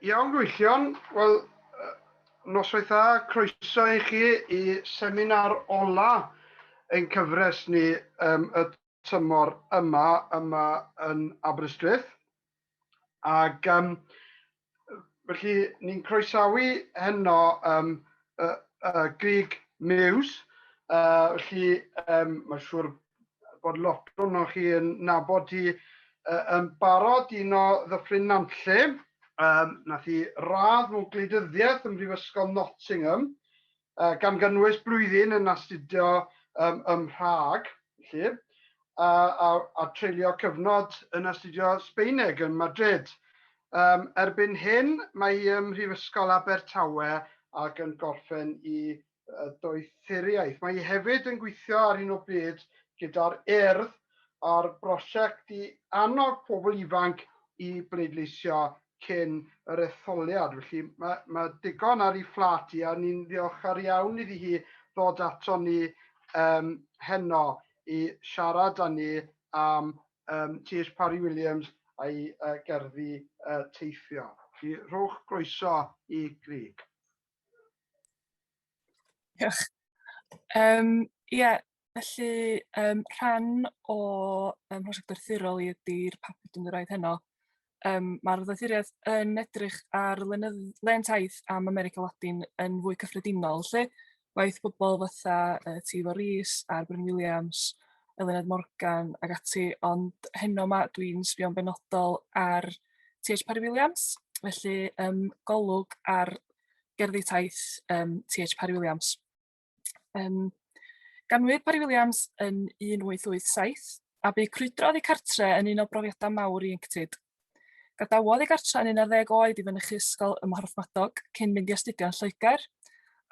Iawn Gwylltion, wel noswaith dda, croeso i chi i seminar ola ein cyfres ni um, y tymor yma yma yn Aberystwyth. Ac um, felly ni'n croesawu heno um, uh, uh, Grig Mews, uh, felly um, mae'n siŵr bod lot o'n chi yn nabod hi uh, yn barod, un o ddyffryn Nanlle. Um, nath i radd mewn gwleidyddiaeth ym Mhrifysgol Nottingham, uh, gan gynnwys blwyddyn yn astudio um, ym Mhrag, lle, a, a, a treulio cyfnod yn astudio Sbeineg yn Madrid. Um, erbyn hyn, mae hi ym Mhrifysgol Abertawe ac yn gorffen i doethuriaeth. Mae hi hefyd yn gweithio ar hyn o bryd gyda'r Urdd ar brosiect i annog pobl ifanc i bleidleisio cyn yr etholiad. Felly mae, mae digon ar ei fflat i a ni'n ddiolchgar iawn iddi hi ddod ato ni um, heno i siarad â ni am um, T.H. Parry Williams a'i uh, gerddi uh, teithio. Felly rhowch groeso i Grig. Diolch. Yym ie felly yym rhan o yym prosiect Arthurol i ydi'r papur dwi'n mynd i roid heno yym ma'r ddoethuriaeth yn edrych ar lenydd- len taith am America Ladin yn fwy cyffredinol lly, waeth pobol fatha yy Teilo Rees a'r Bryn Williams, Eluned Morgan ag ati ond heno 'ma dwi'n sbio'n benodol ar TH Parry Williams, felly um, golwg ar gerddi taith um, TH Parry Williams. Um, ganwyd Parry Williams yn 1887 a bu crwydrodd ei cartre yn un o brofiadau mawr i Inctid. Gadawodd ei gartre yn 11 oed i fynychu ysgol ym Mhorthmadog cyn mynd i astudio yn Lloegr,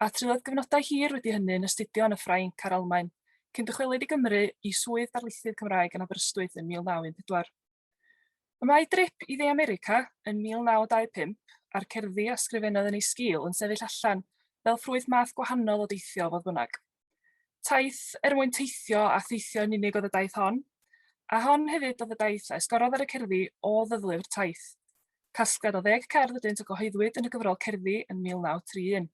a triodd gyfnodau hir wedi hynny yn astudio yn y Ffrainc a'r Almaen, cyn dychwelyd i Gymru i swydd darlithydd Cymraeg yn Aberystwyth yn 1914. Y mae drip i Dde America yn 1925 a'r cerddi a sgrifennodd yn ei sgil yn sefyll allan fel ffrwyth math gwahanol o deithio, fodd bynnag. Taith er mwyn teithio a theithio yn unig oedd y daith hon, a hon hefyd oedd y daith a esgorodd ar y cerddi o ddyddlu'r taith. Casgliad o ddeg cerdd ydynt a gyhoeddwyd yn y gyfrol Cerddi yn 1931.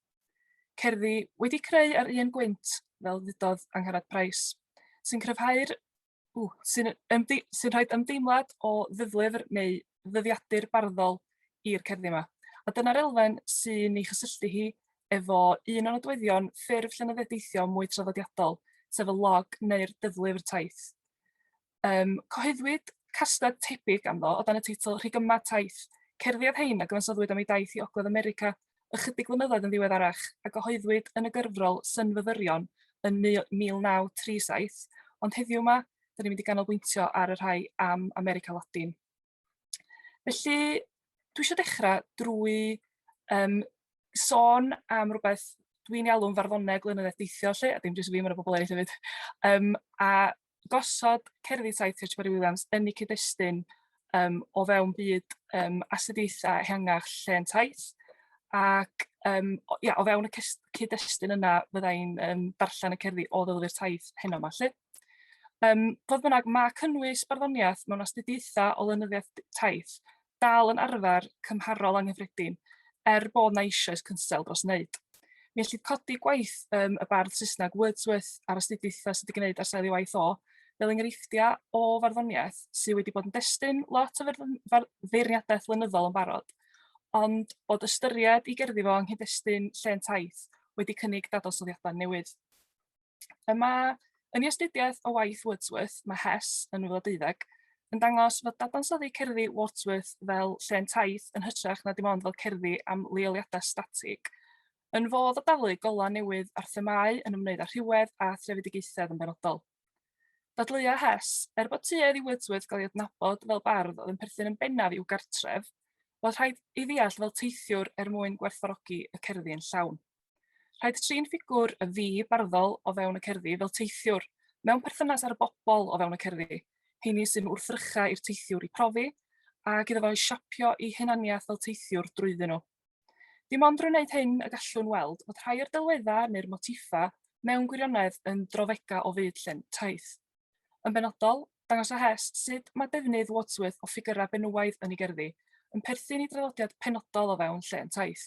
Cerddi wedi creu ar un gwynt, fel ddudodd Angharad Price, sy'n cryfhau'r Ww, sy'n ymde- sy'n rhaid ymdeimlad o ddyflyfr neu ddyddiadur barddol i'r cerddi yma. A dyna'r elfen sy'n ei chysylltu hi efo un o nodweddion ffurf llenyddiaeth-deithio mwy traddodiadol, sef y log neu'r dyflyfr taith. Um, cyhoeddwyd castad tebyg ganddo o dan y teitl Rhig yma taith, cerddi oedd hein a gyfansoddwyd am ei daith i Ogledd America ychydig flynyddoedd yn ddiweddarach a gyhoeddwyd yn y gyfrol Synfyfyrion yn 1937, ond heddiw yma, da ni'n mynd i ganolbwyntio ar y rhai am America Latin. Felly, dwi eisiau dechrau drwy um, sôn am rhywbeth dwi'n ei alw'n farddoneg lenyddedd deithio lle, a dim jyst fi, mae'n y bobl eraill hefyd, um, a gosod cerddi tai Tŷ Parry Williams yn eu cyd-destun um, o fewn byd um, astudiaethau ehangach lle yn taith. Ac um, o, ia, o fewn y cyd-destun yna, fyddai'n um, darllen y cerddi o ddylwyr taith heno yma. Lle. Um, fodd bynnag, mae cynnwys barddoniaeth mewn astudiaethau o lenyddiaeth taith dal yn arfer cymharol anghyffredin, er bod 'na eisoes cynsail dros wneud. Mi ellid codi gwaith yym y bardd Saesneg Wordsworth a'r astudiaethau sydd wedi gwneud ar sail ei waith o, fel enghreifftiau o farddoniaeth sydd wedi bod yn destun lot o ferdd- fer- feirniadaeth flynyddol yn barod, ond bod ystyried i gerddi fo yng nghyd-destun Llên Taith wedi cynnig dadansoddiadau newydd. Y mae, yn ei astudiaeth o waith Wordsworth, mae Hess yn 2012, yn dangos fod dadansoddi cerddi Wordsworth fel llên taith yn hytrach na dim ond fel cerddi am leoliadau statig, yn fodd o dalu golau newydd ar themâu yn ymwneud â rhywedd a threfedigaethedd yn benodol. Dadleuodd Hess, er bod tuedd i Wordsworth gael ei adnabod fel bardd oedd yn perthyn yn bennaf i'w gartref, fod rhaid ei ddeall fel teithiwr er mwyn gwerthfawrogi y cerddi yn llawn. Rhaid trin ffigwr y fi barddol o fewn y cerddi fel teithiwr, mewn perthynas â'r bobl o fewn y cerddi, heini sy'n wrthrychau i'r teithiwr i profi, ac iddo fo i siapio ei hunaniaeth fel teithiwr drwyddyn nhw. Dim ond drwy wneud hyn y gallwn weld fod rhai o'r delweddau neu'r motiffau mewn gwirionedd yn drawfegau o fyd llun, taith. Yn benodol, dangosa Hess sut mae defnydd Wordsworth o ffigyrau benywaidd yn ei gerddi yn perthyn i draddodiad penodol o fewn llên taith.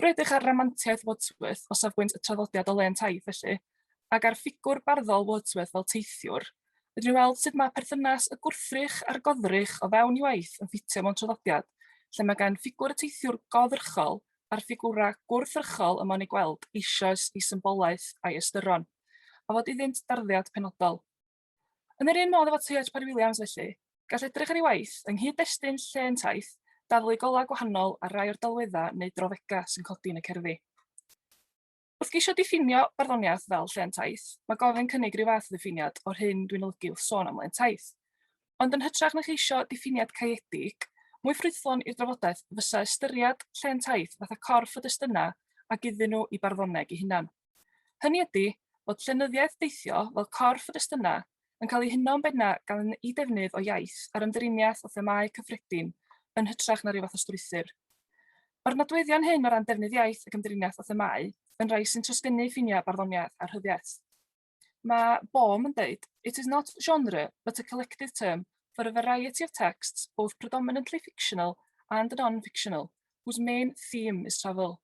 Yr ydych ar ramantiaeth Wordsworth o safbwynt y traddodiad o le yn taith felly, ac ar ffigwr barddol Wordsworth fel teithiwr, rydyn ni'n weld sut mae perthynas y gwrthrych a'r goddrych o fewn i waith yn ffitio mewn traddodiad lle mae gan ffigwr y teithiwr goddrychol a'r ffigurau gwrthrychol y mae'n eu gweld eisoes eu symbolaeth a'u ystyron, a fod iddynt darddiad penodol. Yn yr un modd efo Tŷ Edge Parry Williams felly, gall edrych ar ei waith yng nghyd-destun lle yn taith, dathlu golau gwahanol ar rai o'r delweddau neu drawddegau sy'n codi yn y cerddi. Wrth geisio diffinio barddoniaeth fel lle yn taith, mae gofyn cynnig rhyw fath o ddiffiniad o'r hyn dwi'n olygu wrth sôn am le'n taith. Ond yn hytrach na cheisio diffiniad caeedig, mwy ffrwythlon i'r drafodaeth fysa ystyried lle'n taith fatha corff o destunau ac iddyn nhw i barddoneg i hunan. Hynny ydi, bod llenyddiaeth deithio fel corff o destunau yn cael ei huno'n bennaf gan eu defnydd o iaith a'r ymdriniaeth o themâu cyffredin yn hytrach na rhyw fath o strwythur. Mae'r nodweddion hyn o ran defnydd iaith ac ymdriniaeth o themâu yn rhai sy'n trosgynnu ffiniau barddoniaeth a rhyddiaith. Mae Baum yn dweud, It is not genre, but a collective term for a variety of texts, both predominantly fictional and non-fictional, whose main theme is travel.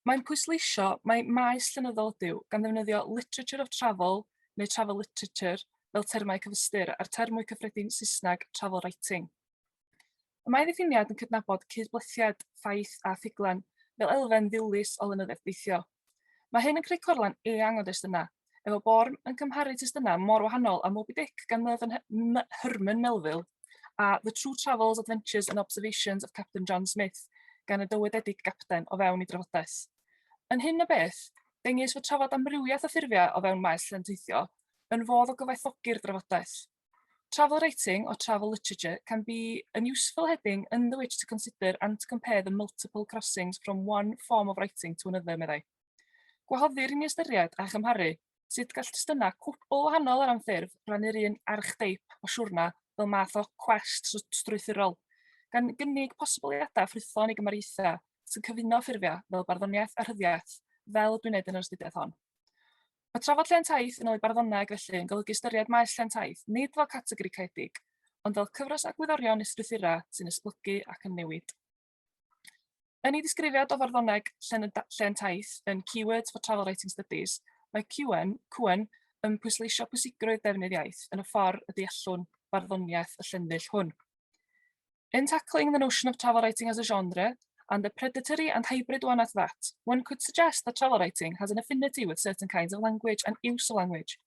Mae'n pwysleisio mai maes llenyddol ydyw, gan ddefnyddio 'literature of travel' neu 'travel literature' fel termau cyfystyr, a'r term mwy cyffredin Saesneg 'travel writing'. Y mae ddiffiniad yn cydnabod cyd-blethiad ffaith a ffuglen fel elfen ddilys o lenyddiaeth deithio. Mae hyn yn creu corlen eang o destunau, efo Bourne yn cymharu testunau mor wahanol â Moby Dick gan Mervyn Herman Melville, a The True Travels, Adventures and Observations of Captain John Smith gan y dywededig gapten o fewn ei drafodaeth. Yn hyn o beth, dengys fod trafod amrywiaeth o ffurfiau o fewn maes llen teithio yn fodd o gyfoethogi'r drafodaeth. Travel writing or travel literature can be an useful heading under which to consider and to compare the multiple crossings from one form of writing to another, meddai. Gwahoddir i ni ystyried a chymharu Sut gall testunau cwbl wahanol o ran ffurf rannu'r un archeteip o siwrna fel math o cwest strwythurol, gan gynnig posibiliadau ffrwythlon i gymariaethau sy'n cyfuno ffurfiau fel barddoniaeth a rhyddiaith, fel dwi'n wneud yn yr astudiaeth hon. Mae trafod lle taith yn ôl i barddonau ac felly yn golygu ystyried maes lle taith nid fel categori caeedig, ond fel cyfres agwyddorion neu strwythurau sy'n esblygu ac yn newid. Yn ei ddisgrifiad o farddoneg llen, llen taith yn Keywords for Travel Writing Studies, mae Cuen, Cuen yn pwysleisio pwysigrwydd defnydd iaith yn y ffordd y deallwn farddoniaeth y llenfill hwn. In tackling the notion of travel writing as a genre, and the predatory and hybrid one at that, one could suggest that travel writing has an affinity with certain kinds of language and use of language,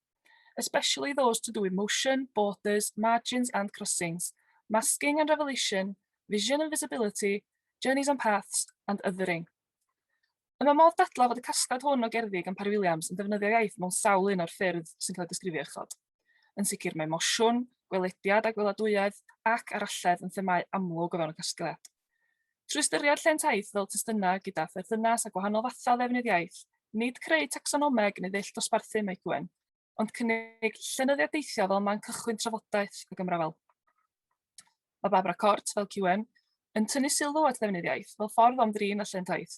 especially those to do with motion, borders, margins and crossings, masking and revelation, vision and visibility, journeys and paths, and othering. Y mae modd dadla fod y casgliad hwn o gerddi gan Parry Williams yn defnyddio iaith mewn sawl un o'r ffyrdd sy'n cael ei disgrifio uchod. Yn sicr mae mosiwn, gwelediad a gweladwyedd ac aralledd yn themau amlwg o fewn y casgliad. Trwy ystyried llên taith fel testunau gyda pherthynas â gwahanol fathau ddefnydd iaith, nid creu tacsonomeg neu ddull dosbarthu mae Gwen, ond cynnig llenyddiaeth deithiol fel man cychwyn trafodaeth ac ymrafael. Mae Barbara Cort, fel QM, yn tynnu sylw at ddefnydd iaith fel ffordd o ymdrin â llên taith,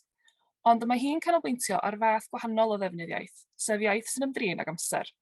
ond mae hi'n canolbwyntio ar fath gwahanol o ddefnydd iaith, sef iaith sy'n ymdrin ag amser.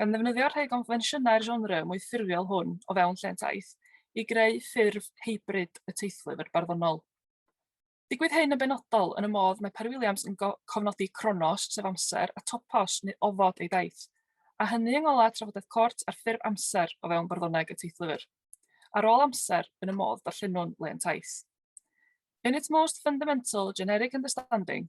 gan ddefnyddio rhai o gonfensiynau'r genre mwy ffurfiol hwn o fewn llên taith i greu ffurf hybrid y teithlwfr barddonol. Digwydd hyn yn benodol yn y modd mae Parry Williams yn cofnodi cronos, sef amser, a topos, neu ofod ei daith, a hynny yng ngolau trafodaeth Cort ar ffurf amser o fewn barddoneg y teithlwfr. Ar ôl amser, yn y modd darllenwn len taith. In its most fundamental generic understanding,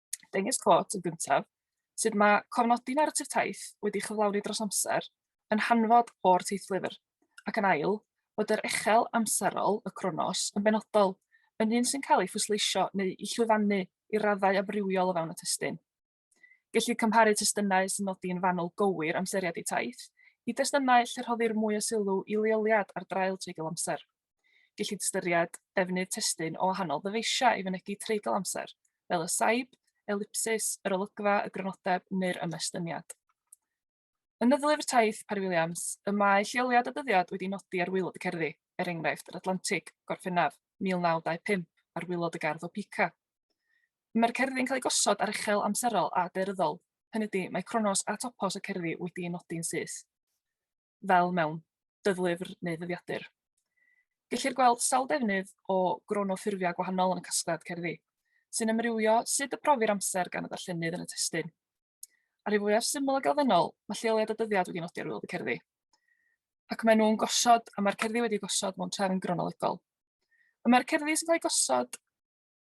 Dengys Clot yn gyntaf sut mae cofnodi naratif taith wedi chyflawni dros amser yn hanfod o'r teithlyfr, ac yn ail, bod yr echel amserol, y cronos, yn benodol, yn un sy'n cael ei phwysleisio neu ei llwyfannu i raddau amrywiol o fewn y testyn. Gellir cymharu testunau sy'n nodi yn fanwl gywir amseriad eu taith i destunau lle rhoddir mwy o sylw i leoliad ar draul treigl amser. Gellid ystyried defnydd testun o wahanol ddyfeisiau i fynegi treigl amser, fel y saib, elipsis, yr olygfa, y grynodeb neu'r ymestyniad. Yn y Ddylyfr Taith Parry Williams, y mae lleoliad a dyddiad wedi nodi ar waelod y cerddi, er enghraifft yr Atlantig, Gorffennaf, 1925, ar waelod y gardd o Pica. Mae'r cerddi'n cael eu gosod ar uchel amserol a deryddol, hynny ydy, mae cronos a topos y cerddi wedi eu nodi'n syth. fel mewn dyddlyfr neu ddyddiadur. Gellir gweld sawl defnydd o gronoffurfiau gwahanol yn y casgliad cerddi, sy'n amrywio sut y profir amser gan y darllenydd yn y testun. Ar ei fwyaf syml ac elfennol, mae lleoliad a dyddiad wedi nodi ar wylod y cerddi. Ac maen nhw'n gosod, a mae'r cerddi wedi gosod mewn trefn gronolegol. Y mae'r cerddi sy'n cael eu gosod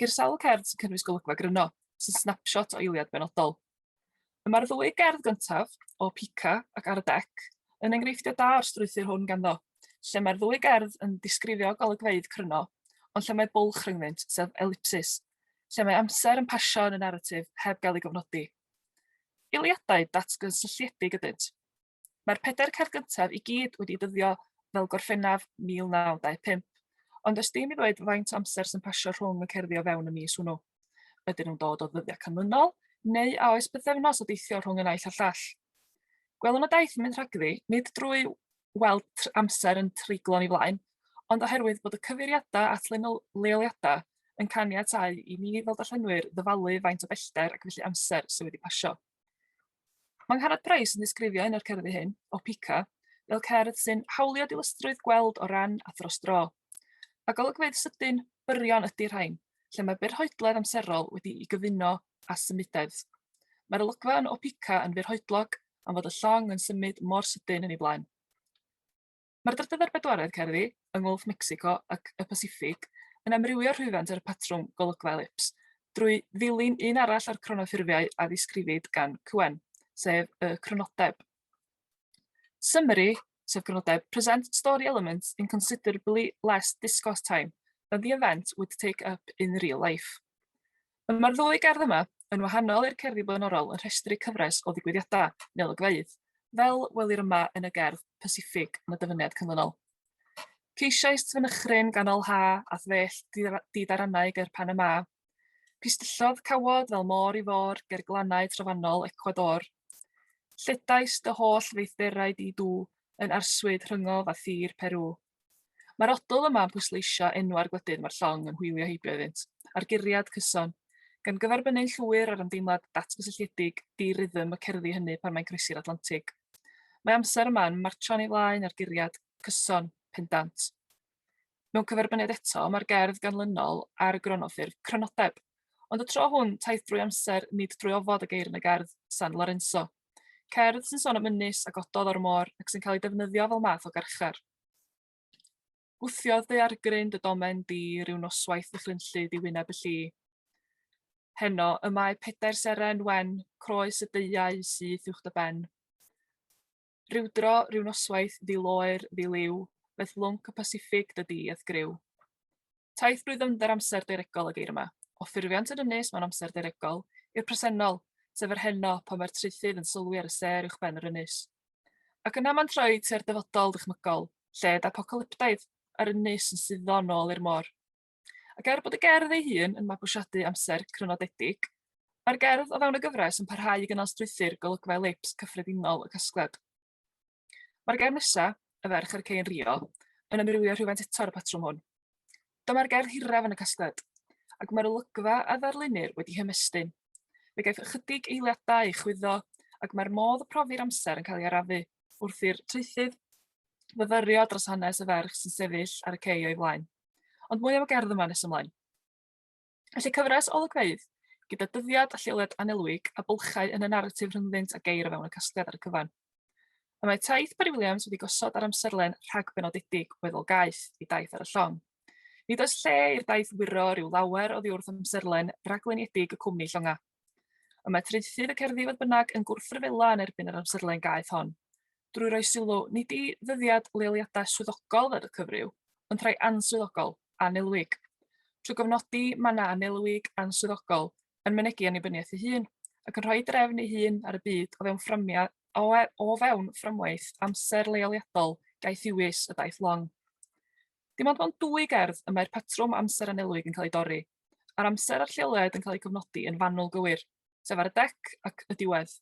Ceir sawl cerdd sy'n cynnwys golygfa gryno, sy'n snapshot o eiliad benodol. Y mae'r ddwy gerdd gyntaf, o Pica ac ar y dec, yn enghreifftiau da o'r strwythur hwn ganddo, lle mae'r ddwy gerdd yn disgrifio golygfeydd cryno, ond lle mae bwlch rhyngddynt, sef elipsis, lle mae amser yn pasio yn y naratif heb gael ei gofnodi. Eiliadau datgysylltiedig ydynt. Mae'r pedair car gyntaf i gyd wedi dyddio fel Gorffennaf 1925, ond os dim i ddweud faint o amser sy'n pasio rhwng y cerddi o fewn y mis hwnnw. Ydyn nhw'n dod o ddyddiau canlynol, neu a oes bythefnos o deithio rhwng y naill a llall? Gwelwn y daith yn mynd rhagddi, nid drwy weld amser yn treiglo ni flaen, ond oherwydd bod y cyfeiriadau at leoliadau yn caniatau i ni fel darllenwyr ddyfalu faint o bellter ac felly amser sydd wedi pasio. Mae Ngharad Price yn disgrifio un o'r cerddi hyn, o Pica, fel cerdd sy'n hawlio dilystrwydd gweld o ran a thros dro. A golygfeydd sydyn, byrion ydy rhain, lle mae byrhoedledd amserol wedi'i gyfuno â symudedd. Mae'r olygfa yn O Pica yn fyrhoedlog am fod y llong yn symud mor sydyn yn ei flaen. Mae'r Drydedd a'r Bedwaredd Cerddi yng Ngwlff Mecsico ac y Pasiffig yn amrywio rhwyfant ar y patrwm golygfa elips, drwy ddilyn un arall o'r cronoffurfiau a ddisgrifid gan Couen, sef y crynodeb. Summary, sef crynodeb, present story elements in considerably less discourse time than the event would take up in real life. Y mae'r ddwy gerdd yma, yn wahanol i'r cerddi blaenorol, yn rhestru cyfres o ddigwyddiadau neu olygfeydd, fel welir yma yn y gerdd Pasiffig yn y dyfyniad canlynol. Ceisiais fynychryn ganol ha a thwell didarannau ger Panama. Pistyllodd cawod fel môr i fôr ger glannau trofannol Ecuador. Lledais dy holl feithderau di dŵ yn arswyd rhyngof a thir Peru. Mae'r odl yma yn pwysleisio enwau'r gwledydd mae'r llong yn hwylio heibio iddynt, a'r guriad, cyson, gan gyferbynnu'n llwyr â'r ymdeimlad datgysylltiedig, di-rythm y cerddi hynny pan mae'n croesi'r Atlantig. Mae amser yma yn martsio'n ei flaen a'r guriad, cyson, pendant. Mewn cyferbyniad eto, mae'r gerdd ganlynol ar y gronoffurf, crynodeb, ond y tro hwn, taith drwy amser, nid drwy ofod y geir yn y gerdd, San Lorenzo. Cerdd sy'n sôn am ynys a gododd o'r môr ac sy'n cael ei defnyddio fel math o garchar. Gwthiodd daeargryn dy domen di rhyw noswaith ddychrynllyd i wyneb y lli. Heno, y mae pedair seren wen, croes y deiau syth uwch dy ben. Rhyw dro, rhyw noswaith, ddi loer, ddi liw, beth lwnc y Pasifig dy di, eth gryw. Taith brwyddyfnder amser daearegol y geir yma, o ffurfiant yr ynys mewn amser daearegol, i'r presennol, sef yr heno, pan mae'r traethydd yn sylwi ar y sêr uwchben yr ynys. Ac yna mae'n troi tua'r dyfodol ddychmygol, lled apocalyptaidd, a'r ynys yn suddo nôl i'r môr. Ac er bod y gerdd ei hun yn mabwysiadu amser crynodedig, mae'r gerdd o fewn y gyfres yn parhau i gynnal strwythur golygfa elips cyffredinol y casgliad. Mae'r gerdd nesa, Y Ferch a'r Cei yn Rio, yn amrywio rhywfaint eto ar y patrwm hwn. Dyma'r gerdd hiraf yn y casgliad, ac mae'r olygfa a ddarlunnir wedi hymestyn. Fe gaiff ychydig eiliadau ei chwyddo, ac mae'r modd y profi'r amser yn cael ei arafu wrth i'r traethydd fyfyrio dros hanes y ferch sy'n sefyll ar y cei o'i flaen. Ond mwy am y gerdd yma nes ymlaen. Felly cyfres o olygfeydd, gyda dyddiad a lleoliad anelwig a bylchau yn y naratif rhyngddynt a geir o fewn y casgliad ar y cyfan. Y mae taith Barry Williams wedi gosod ar amserlen rhag benodedig weddol gaeth i daith ar y llong. Nid oes lle i'r daith wiro rhyw lawer o ddiwrth amserlen rhagluniedig y cwmni llongau. Y mae traethydd y cerddi fodd bynnag yn gwrthryfela yn erbyn yr amserlen gaeth hon, drwy roi sylw nid i ddyddiad leoliadau swyddogol fel y cyfryw, ond rhai answyddogol, annelwig, trwy gofnodi mannau annelwig, answyddogol, yn mynegi annibyniaeth ei hun, ac yn rhoi drefn ei hun ar y byd o fewn fframia, o, e, o fewn fframwaith amser leoliadol gaethiwus y daith long. Dim ond mewn dwy gerdd y mae'r patrwm amser anelwig yn cael ei dorri, a'r amser a'r lleoliad yn cael eu cofnodi yn fanwl gywir, sef ar y dec ac y diwedd.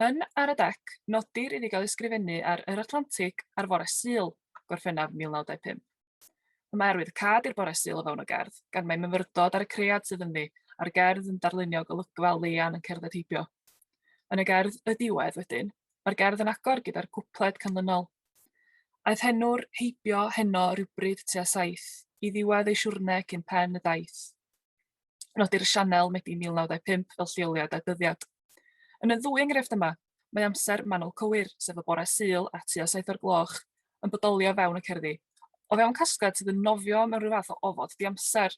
Yn Ar y Dec, nodir iddi gael ei sgrifennu ar Yr Atlantig ar fore Sul, Gorffennaf 1925. Y mae arwydd cad i'r bore Sul o fewn y gerdd, gan mae myfyrdod ar y cread sydd ynddi, a'r gerdd yn darlunio golygfa leian yn cerdded heibio. Yn y gerdd Y Diwedd wedyn, mae'r gerdd yn agor gyda'r cwpled canlynol. Aeth henwr heibio heno rywbryd tua saith i ddiwedd ei siwrne cyn pen y daith. Nodir Sianel Medi 1925 fel lleoliad a dyddiad. Yn y ddwy enghraifft yma, mae amser manwl cywir, sef y bore Sul a tua saith o'r gloch, yn bodoli o fewn y cerddi, o fewn casgliad sydd yn nofio mewn rhyw fath o ofod diamser.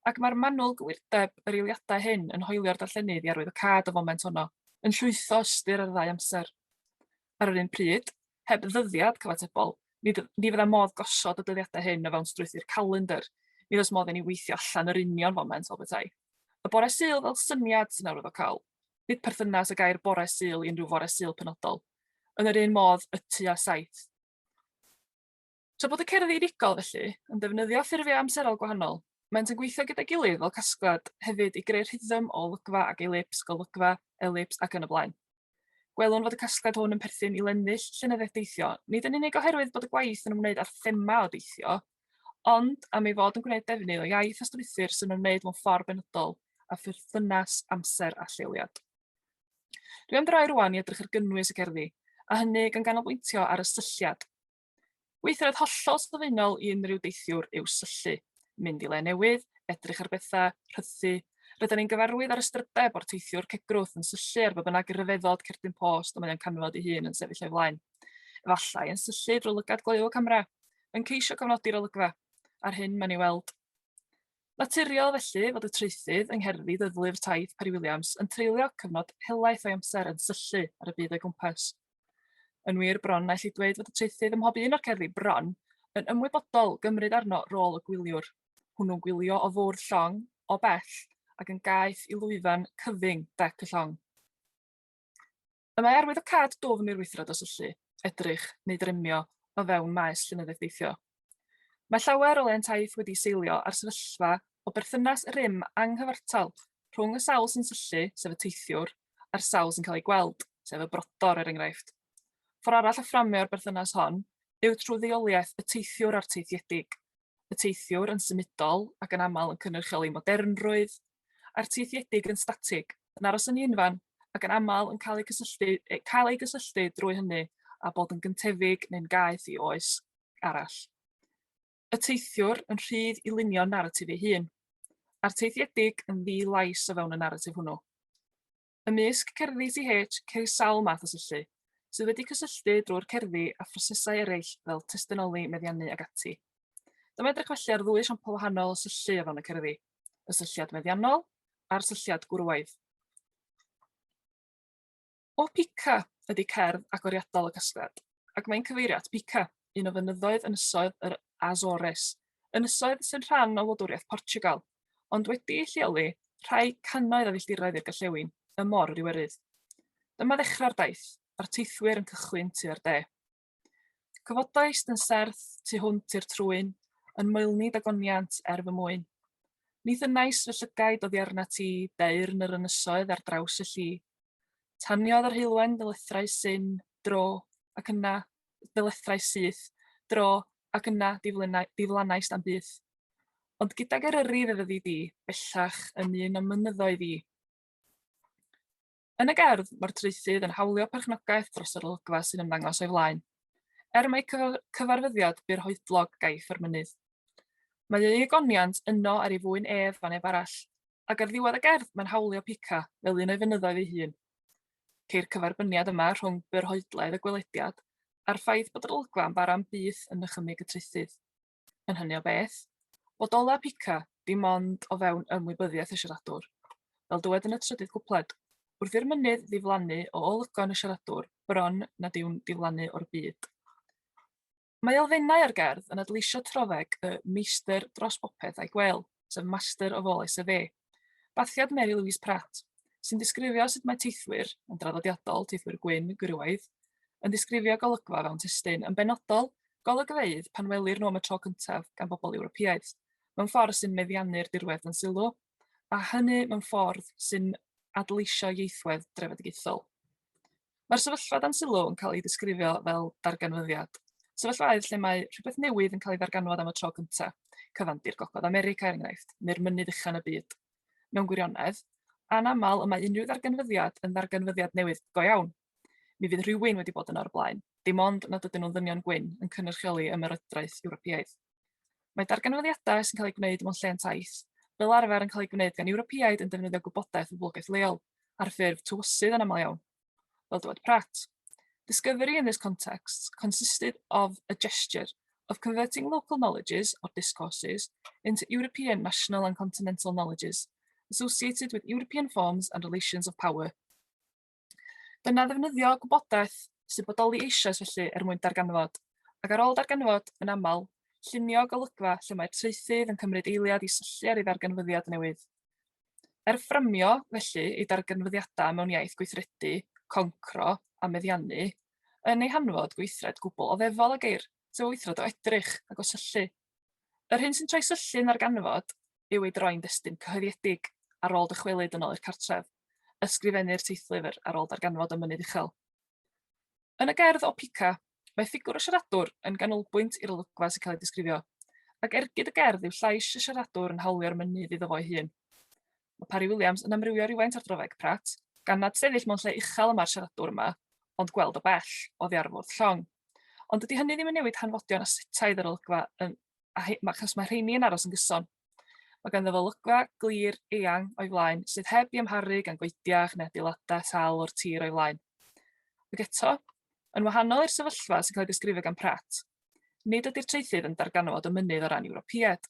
Ac mae'r manwl gywirdeb yr eiliadau hyn yn hoelio'r darllenydd i arwyddocâd y foment honno, yn llwytho ystyr ar ddau amser. ar yr un pryd, heb ddyddiad cyfatebol, ni dy- ni fydda modd gosod y dyddiadau hyn o fewn strwythur calendr. Ni oes modd i ni weithio allan yr union foment fel petai. Y bore Sul fel syniad sy'n arwyddocaol. Nid perthynas y gair bore Sul i unrhyw fore Sul penodol. Yn yr un modd y tua saith. Tra bod y cerddi unigol, felly, yn defnyddio ffurfiau amserol gwahanol, maent yn gweithio gyda'i gilydd fel casgliad hefyd i greu rhythm o olygfa ac elips, golygfa, elips ac yn y blaen. Gwelwn fod y casgliad hwn yn perthyn i lennill llenyddiaeth deithio, nid yn unig oherwydd bod y gwaith yn ymwneud â'r thema o deithio, ond am ei fod yn gwneud defnydd o iaith a strwythur sy'n ymwneud mewn ffordd benodol a pherthynas amser a lleoliad. Dwi am droi rwan i edrych ar gynnwys y cerddi, a hynny gan ganolbwyntio ar y sylliad. Weithred hollol sylfaenol i unrhyw deithiwr yw syllu, mynd i le newydd, edrych ar bethau, rhythu. Rydyn ni'n gyfarwydd â'r ystrydeb o'r teithiwr cegrwth yn syllu ar ba bynnag ryfeddod cerdyn post y mae o'n canfod ei hun yn sefyll o'i flaen. Efallai yn syllu drwy lygad gloyw y camera, yn ceisio cofnodi'r olygfa, a'r hyn mae'n ei weld. Naturiol felly fod y traethydd yng ngherddi dyddlu'r taith Parry Williams yn treulio cyfnod helaeth o'i amser yn syllu ar y byd o'i gwmpas. Yn wir, bron na elli dweud fod y traethydd ym mhob un o'r cerddi bron yn ymwybodol gymryd arno rôl y gwyliwr, hwnnw'n gwylio o fwrdd llong, o bell, ac yn gaeth i lwyfan cyfyng dec y llong. Y mae arwyddocâd dwfn i'r wythro dros y llu, edrych, neu dremio, o fewn maes llinyddeeffeithio. Mae llawer o lentaeth wedi seilio ar sefyllfa o berthynas rym anghyfartal rhwng y sawl sy'n syllu, sef y teithiwr, a'r sawl sy'n cael ei gweld, sef y brodor er enghraifft. Ffordd arall o fframio'r berthynas hon yw trwy ddeuoliaeth y teithiwr a'r teithiedig. y teithiwr yn symudol ac yn aml yn cynrychioli modernrwydd, a'r teithiedig yn statig, yn aros yn un fan, ac yn aml yn cael eu cysylltu, cael eu gysylltu drwy hynny a bod yn gyntefig neu'n gaeth i oes arall. Y teithiwr yn rhydd i lunio naratif ei hun, a'r teithiedig yn ddi-lais o fewn y naratif hwnnw. Ymysg cerddi TH ceir sawl math o syllu, sydd wedi cysylltu drwy'r cerddi â phrosesau eraill fel testunoli, meddiannu ac ati. Dyma edrych felly ar ddwy esiampl wahanol o syllu o fewn y cerddi, y sylliad meddiannol a'r sylliad gwrywaidd. O Pica ydy cerdd agoriadol y casgliad, ac mae'n cyfeirio at Pica, un o fynyddoedd ynysoedd yr Azores, ynysoedd sy'n rhan o wladwriaeth Portugal. ond wedi'i lleoli rhai cannoedd o filltiroedd i'r gorllewin ym Mor yr Iwerydd. Dyma ddechrau'r daith, a'r teithwyr yn cychwyn tua'r de. Cyfodaist yn serth tu hwnt i'r trwyn, yn moelni dagoniant er fy mwyn. Ni thynnais fy llygaid oddi arna ti, deyrn yr ynysoedd ar draws y lli. Taniodd yr heulwen ddylethrau syn, dro, ac yna ddylethrau syth, dro, ac yna diflanaist am byth. Ond gydag Eryri fe fyddi di, bellach, yn un o'm mynyddoedd i. Yn y gerdd, mae'r traethydd yn hawlio perchnogaeth dros yr olygfa sy'n ymddangos o'i flaen. Er mae cyfarfyddiad byr hoedlog gaiff yr mynydd. Mae ei egoniant yno ar ei fwyn ef a neb arall, ac ar ddiwedd y gerdd mae'n hawlio pica fel un o'i fynyddoedd ei hun. Ceir cyferbyniad yma rhwng byr hoedlaidd y gwelediad a'r ffaith bod yr olygfa yn bara am byth yn nychymyg y traethydd. yn hynny o beth, fod olew pica dim ond o fewn ymwybyddiaeth y siaradwr. Fel dywed yn y trydydd cwpled, wrth i'r mynydd ddiflannu o olygon y siaradwr, bron nad yw'n diflannu o'r byd. Mae elfennau o'r gerdd yn adleisio trofeg y meistr dros bopeth a'i gwel, sef master of all SFA. Bathiad Mary Louise Pratt, sy'n disgrifio sut mae teithwyr, yn draddodiadol, teithwyr gwyn, gwrywaidd, yn disgrifio golygfa fewn testun, yn benodol, golygfeydd pan welir nhw am y tro cyntaf gan bobl Ewropeaidd, mewn ffordd sy'n meddiannu'r dirwedd dan sylw, a hynny mewn ffordd sy'n adleisio ieithwedd drefedigaethol. Mae'r sefyllfa dan sylw yn cael ei ddisgrifio fel darganfyddiad. Sefyllfaoedd lle mae rhywbeth newydd yn cael ei ddarganfod am y tro cyntaf, cyfandir Gogledd America er enghraifft, neu'r mynydd uchan y byd. Mewn gwirionedd, anaml y mae unrhyw ddarganfyddiad yn ddarganfyddiad newydd go iawn. Mi fydd rhywun wedi bod yno o'r blaen, dim ond nad ydyn nhw'n ddynion gwyn yn cynrychioli ymerodraeth Ewropeaidd. Mae darganfyddiadau sy'n cael eu gwneud mewn lle yn taith, fel arfer yn cael eu gwneud gan Ewropeaid yn defnyddio gwybodaeth o boblogaeth leol, ar ffurf tywysydd yn aml iawn, fel dywed Pratt. Discovery in this context consisted of a gesture of converting local knowledges or discourses into European, national and continental knowledges associated with European forms and relations of power. Dyna ddefnyddio gwybodaeth sy'n bodoli eisoes felly er mwyn darganfod, ac ar ôl darganfod, yn aml, llunio golygfa lle mae'r traethydd yn cymryd eiliad i syllu ar ei ddarganfyddiad newydd. Er fframio, felly, ei darganfyddiadau mewn iaith gweithredu, concro a meddiannu, yn ei hanfod gweithred gwbl oddefol a geir, sef o weithred o edrych ac o syllu, Yr hyn sy'n troi syllu'n ddarganfod yw ei droi'n destun cyhoeddiedig ar ôl dychwelyd yn ôl i'r cartref, ysgrifennu'r teithlyfr ar ôl darganfod y mynydd uchel. Yn y gerdd o Pica, mae ffigwr y siaradwr yn ganolbwynt i'r olygfa sy'n cael ei disgrifio, ac ergyd y gerdd yw llais y siaradwr yn hawlio'r mynydd iddo fo'i hun. Mae Parry Williams yn amrywio rywfaint ar draweg Pratt, gan nad sefyll mewn lle uchel y mae'r siaradwr yma, ond gweld o bell, oddi ar y fwrdd llong. Ond dydy hynny ddim yn newid hanfodion a setaidd yr olygfa, yn, a he, mae, achos mae rheini yn aros yn gyson. Mae ganddo fo olygfa glir, eang, o'i flaen, sydd heb i amharu gan goediach neu adeiladau sal o'r tir o'i flaen. Ac eto, yn wahanol i'r sefyllfa sy'n cael ei ddisgrifio gan Pratt, nid ydy'r traethydd yn darganfod y mynydd o ran Ewropeaid.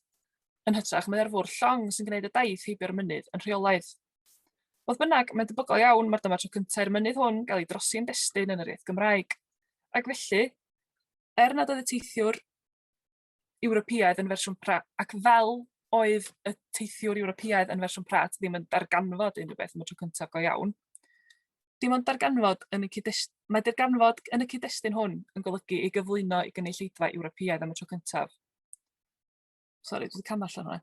Yn hytrach, mae ar fwrdd llong sy'n gwneud y daith heibio'r mynydd yn rheolaidd. Fodd bynnag, mae'n debygol iawn mae'r dyma tro cyntaf i'r mynydd hwn gael ei drosi'n destun yn yr iaith Gymraeg. Ac felly, er nad oedd y teithiwr Ewropeaidd yn fersiwn Pratt, ac fel oedd y teithiwr Ewropeaidd yn fersiwn Pratt ddim yn darganfod unrhyw beth am y tro cyntaf go iawn, dim ond darganfod yn y cyd-destun, mae darganfod yn y cyd-destun hwn yn golygu ei gyflwyno i gynulleidfa Ewropeaidd am y tro cyntaf. Sori, dwi wedi camu allan hwnna.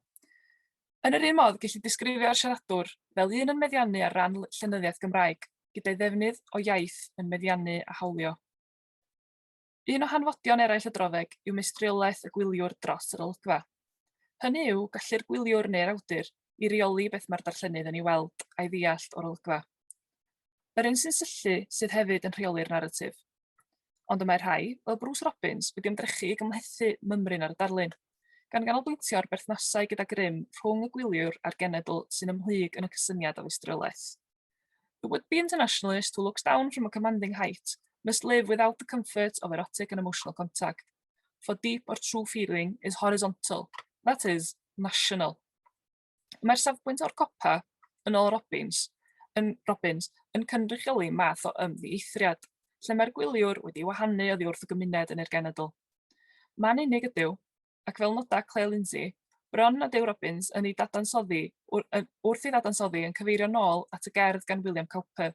Yn yr un modd, ges i disgrifio'r siaradwr fel un yn meddiannu ar ran llenyddiaeth Gymraeg, gyda'i ddefnydd o iaith yn meddiannu a hawlio. Un o hanfodion eraill y droddeg yw meistriolaeth y gwyliwr dros yr olygfa. Hynny yw, gallu'r gwyliwr neu'r awdur i reoli beth mae'r darllenydd yn ei weld a'i ddeall o'r olygfa. Yr un sy'n syllu sydd hefyd yn rheoli'r naratif. Ond y mae rhai, fel Bruce Robbins, wedi ymdrechu i gymhlethu mymryn ar y darlun, gan ganolbwyntio ar berthnasau gyda grym rhwng y gwyliwr a'r genedl sy'n ymhlyg yn y cysyniad o feistriolaeth. The would-be internationalist who looks down from a commanding height must live without the comfort of erotic and emotional contact, for deep or true feeling is horizontal, that is, national. Mae'r safbwynt o'r copa, yn ôl Robbins, yn Robbins, yn cynrychioli math o ymddieithriad, lle mae'r gwyliwr wedi wahanu oddi wrth y gymuned yn i'r genedl. Mae'n unig ydyw, ac fel noda Claire Lindsay, bron nad yw Robbins yn ei dadansoddi wrth ei ddadansoddi yn cyfeirio nôl at y gerdd gan William Cowper,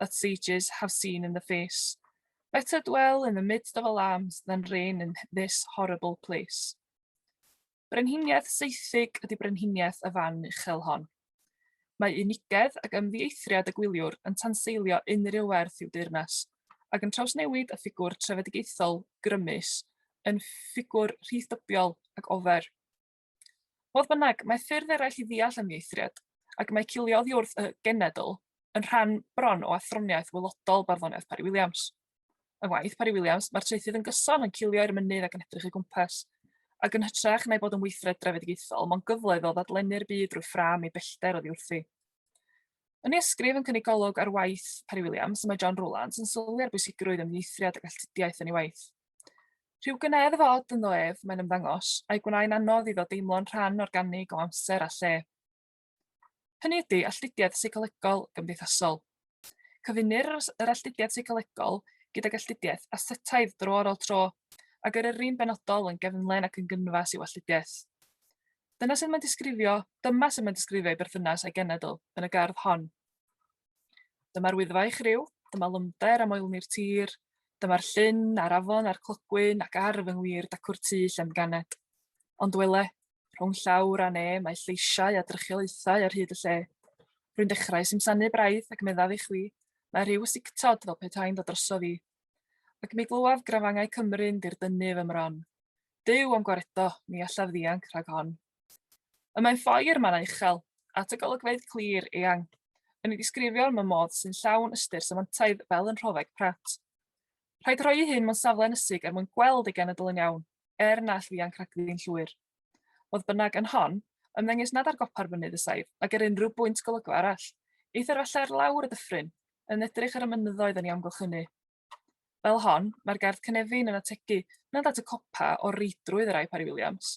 that sages have seen in the face, Better dwell in the midst of alarms than reign in this horrible place. Brenhiniaeth seithig ydy brenhiniaeth y fan uchel hon. Mae unigedd ac ymddieithriad y gwyliwr yn tanseilio unrhyw werth i'w deyrnas, ac yn trawsnewid y ffigwr trefedigaethol grymus yn ffigwr rhithdybiol ac ofer. Fodd bynnag, mae ffyrdd eraill i ddeall ymieithriad, ac mae cilio oddi wrth y genedl yn rhan bron o athroniaeth wylodol barddoniaeth Parry Williams. Yng ngwaith Parry Williams, mae'r traethydd yn gyson yn cilio i'r mynydd ac yn edrych ei gwmpas, ac yn hytrach na'i bod yn weithred drefedigaethol, mae'n gyfle iddo ddadlennu'r byd drwy ffram ei bellter oddi wrthi. Yn ei ysgrif yn cynnig golwg ar waith Parry Williams, mae John Rowlands yn sylwi ar bwysigrwydd ymieithriad ac alltudiaeth yn ei waith. Rhyw gyneddfa od ynddo ef, mae'n ymddangos, a'i gwnaen anodd iddo deimlo'n rhan organig o amser a lle. Hynny ydy, alltudiaeth seicolegol gymdeithasol. Cyfunir yr alltudiaeth seicolegol gydag alltudiaeth asetaidd dro ar ôl tro, a gyrru'n benodol yn gefnlen ac yn gynfas i'w alltudiaeth. Dyna sydd mae'n disgrifio, dyma sydd mae'n disgrifio ei berthynas a'i genedl yn y gerdd hon. Dyma'r Wyddfa i'ch ryw, dyma Lymder a moelni'r tir, dyma'r llyn a'r afon a'r clogwyn ac ar fy ngwir dacw'r tŷ lle'n ganed. Ond wele, rhwng llawr a ne mae lleisiau a drychiolaethau ar hyd y lle. Rwy'n dechrau simsanu braidd ac meddaf i chwi, mae rhyw sictod fel petai'n dod drosof i. Ac mi glywaf grafangau Cymru'n dirdynnu fy mron. Duw am gwaredo, ni allaf ddianc rhag hon. Y mae ffoi i'r mannau uchel, at y golygfeydd clir, eang, yn ei ddisgrifio mewn modd sy'n llawn ystyr semantaidd fel yn rhofeg Pratt. Rhaid rhoi i hyn mewn safle ynysig er mwyn gweld ei genedl yn iawn, er na all ddianc rhagddi'n llwyr. Fodd bynnag, yn hon, ymddengys nad ar gopa'r fynydd y saif, nag ar unrhyw bwynt golygfa arall. Eithr falle ar lawr y dyffryn, yn edrych ar y mynyddoedd yn ei amgylchynu. Fel hon, mae'r gerdd cynefin yn ategu nad at y copa o'r reidrwydd y rai Parry Williams,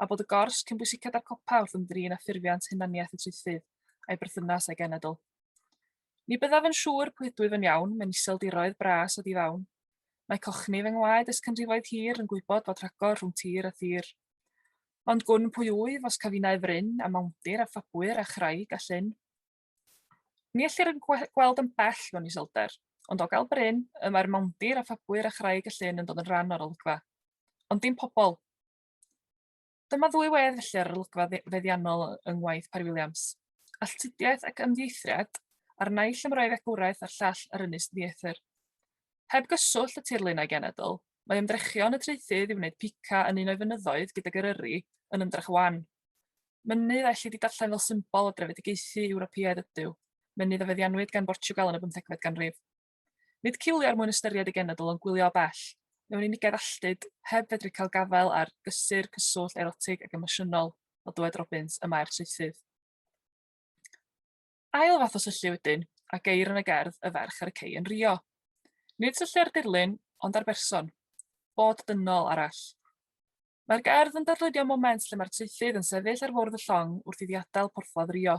a bod y gors cyn bwysicad â'r copa wrth ymdrin â ffurfiant hunaniaeth y traethydd a'i berthynas â'i genedl. Ni byddaf yn siŵr pwy ydwyf yn iawn, mewn iseldiroedd bras a difawn. Mae cochni fy ngwaed ers canrifoedd hir yn gwybod bod rhagor rhwng tir a thir. Ond gwn pwy wyf os cafinau fryn a mawndir a ffabwyr a chraig a llyn. Ni ellir yn gweld yn bell mewn iselder, ond o gael bryn, y mae'r mawndir a phabwyr a chraig y llyn yn dod yn rhan o'r olygfa. Ond dim pobl. Dyma ddwy wedd felly ar yr olygfa feddiannol yng ngwaith Parry Williams. Alltudiaeth ac ymddieithriad, a'r naill am roi fegwraeth a'r llall ar ynys ddieithr. Heb gyswllt y tirlun a'i genedl, mae ymdrechion y traethydd i wneud pica yn un o'i fynyddoedd gydag Eryri yn ymdrech wan. Mynydd a ellid ei darllen fel symbol o drefedigaethu Ewropeaidd ydyw, mynydd a feddiannwyd gan Bortiwgal yn y bymthegfed ganrif. Nid cilio er mwyn ystyried ei genedl ond gwylio o bell, mewn unigedd alltud, heb fedru cael gafael ar gysur, cyswllt, erotig ac emosiynol, o dywed Robbins, y mae'r saethydd. Ail fath o syllu wedyn, a geir yn y gerdd y ferch ar y cei yn Rio. Nid syllu ar dirlun, ond ar berson, bod dynol arall. Mae'r gerdd yn darlunio moment lle mae'r traethydd yn sefyll ar fwrdd y llong wrth iddi adael porthladd Rio.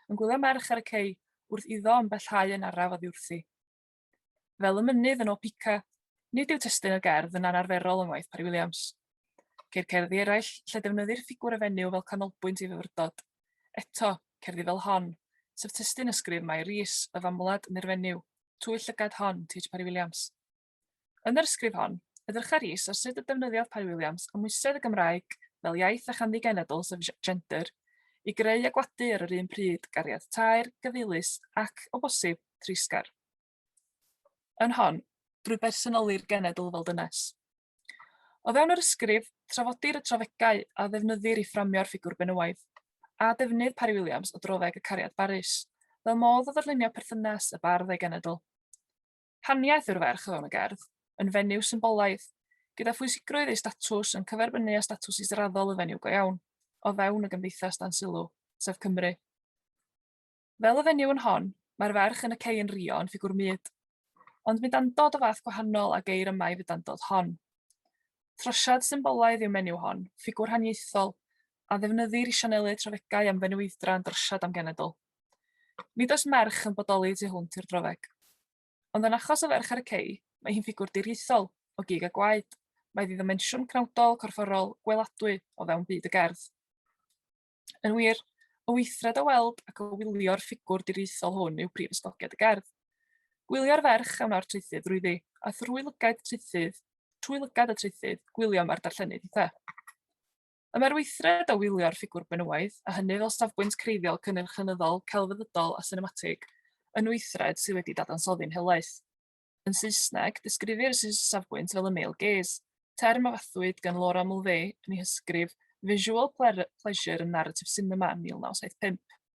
Yn gwylio merch ar y cei, wrth iddo yn bellhau yn araf oddi wrthi. Fel y mynydd yn Opica, nid yw testun y gerdd yn anarferol yng ngwaith Parry Williams. Ceir cerddi eraill lle defnyddir ffigwr y fenyw fel canolbwynt ei fyfyrdod. Eto, cerddi fel hon, sef testun ysgrif Mai Rees, y famwlad neu'r fenyw, Twyll llygad hon, T.H. Parry Williams. Yn yr ysgrif hon, edrycha Rhys ar sut y defnyddiodd Parry Williams amwysedd y Gymraeg fel iaith a chanddi genedl sef gender i greu a gwadu ar yr un pryd gariad taer, gyfeilus ac, o bosib, treisgar. Yn hon, drwy bersonoli'r genedl fel dynes. O fewn yr ysgrif, trafodir y trafegau a ddefnyddir i fframio'r ffigwr benywaidd, a defnydd Parry Williams o droddeg y cariad barus, fel modd o ddarlunio perthynas y bardd a'i genedl. Haniaeth yw'r ferch o fewn y gerdd, yn fenyw symbolaidd, gyda phwysigrwydd ei statws yn cyferbynnu â statws israddol y fenyw go iawn, o fewn y gymdeithas dan sylw, sef Cymru. Fel y fenyw yn hon, mae'r ferch yn y cei yn rio yn ffigwr mud, ond mudandod o fath gwahanol a geir yma i fudandod hon. Throsiad symbolaidd yw menyw hon, ffigwr haniaethol, a ddefnyddir i sianelu trafegau am fenywydra yn drosiad am genedl. Nid oes merch yn bodoli y tu hwnt i'r drofeg. Ond yn achos y ferch ar y cei, mae hi'n ffigwr diriaethol, o gig a gwaed, mae iddi ddimensiwn penawdol, corfforol, gweladwy o fewn byd y gerdd. Yn wir, y weithred o weld ac o wylio'r ffigwr diriaethol hwn yw prif ysgogiad y gerdd. Gwylio'r ferch a wna'r traethydd drwyddi, a thrwy lygaid traethydd, trwy lygad y traethydd, gwylio mae'r darllenydd eitha. Y mae'r weithred o wylio'r ffigwr benywaidd, a hynny fel safbwynt creiddiol cynnyrch-llenyddol, celfyddydol a sinematig, yn weithred sydd wedi dadansoddi'n helaeth. Yn Saesneg, disgrifir y safbwynt fel y male gaze, term a fathwyd gan Laura Mulvey yn ei hysgrif Visual Pleasure in Narrative Cinema, 1975.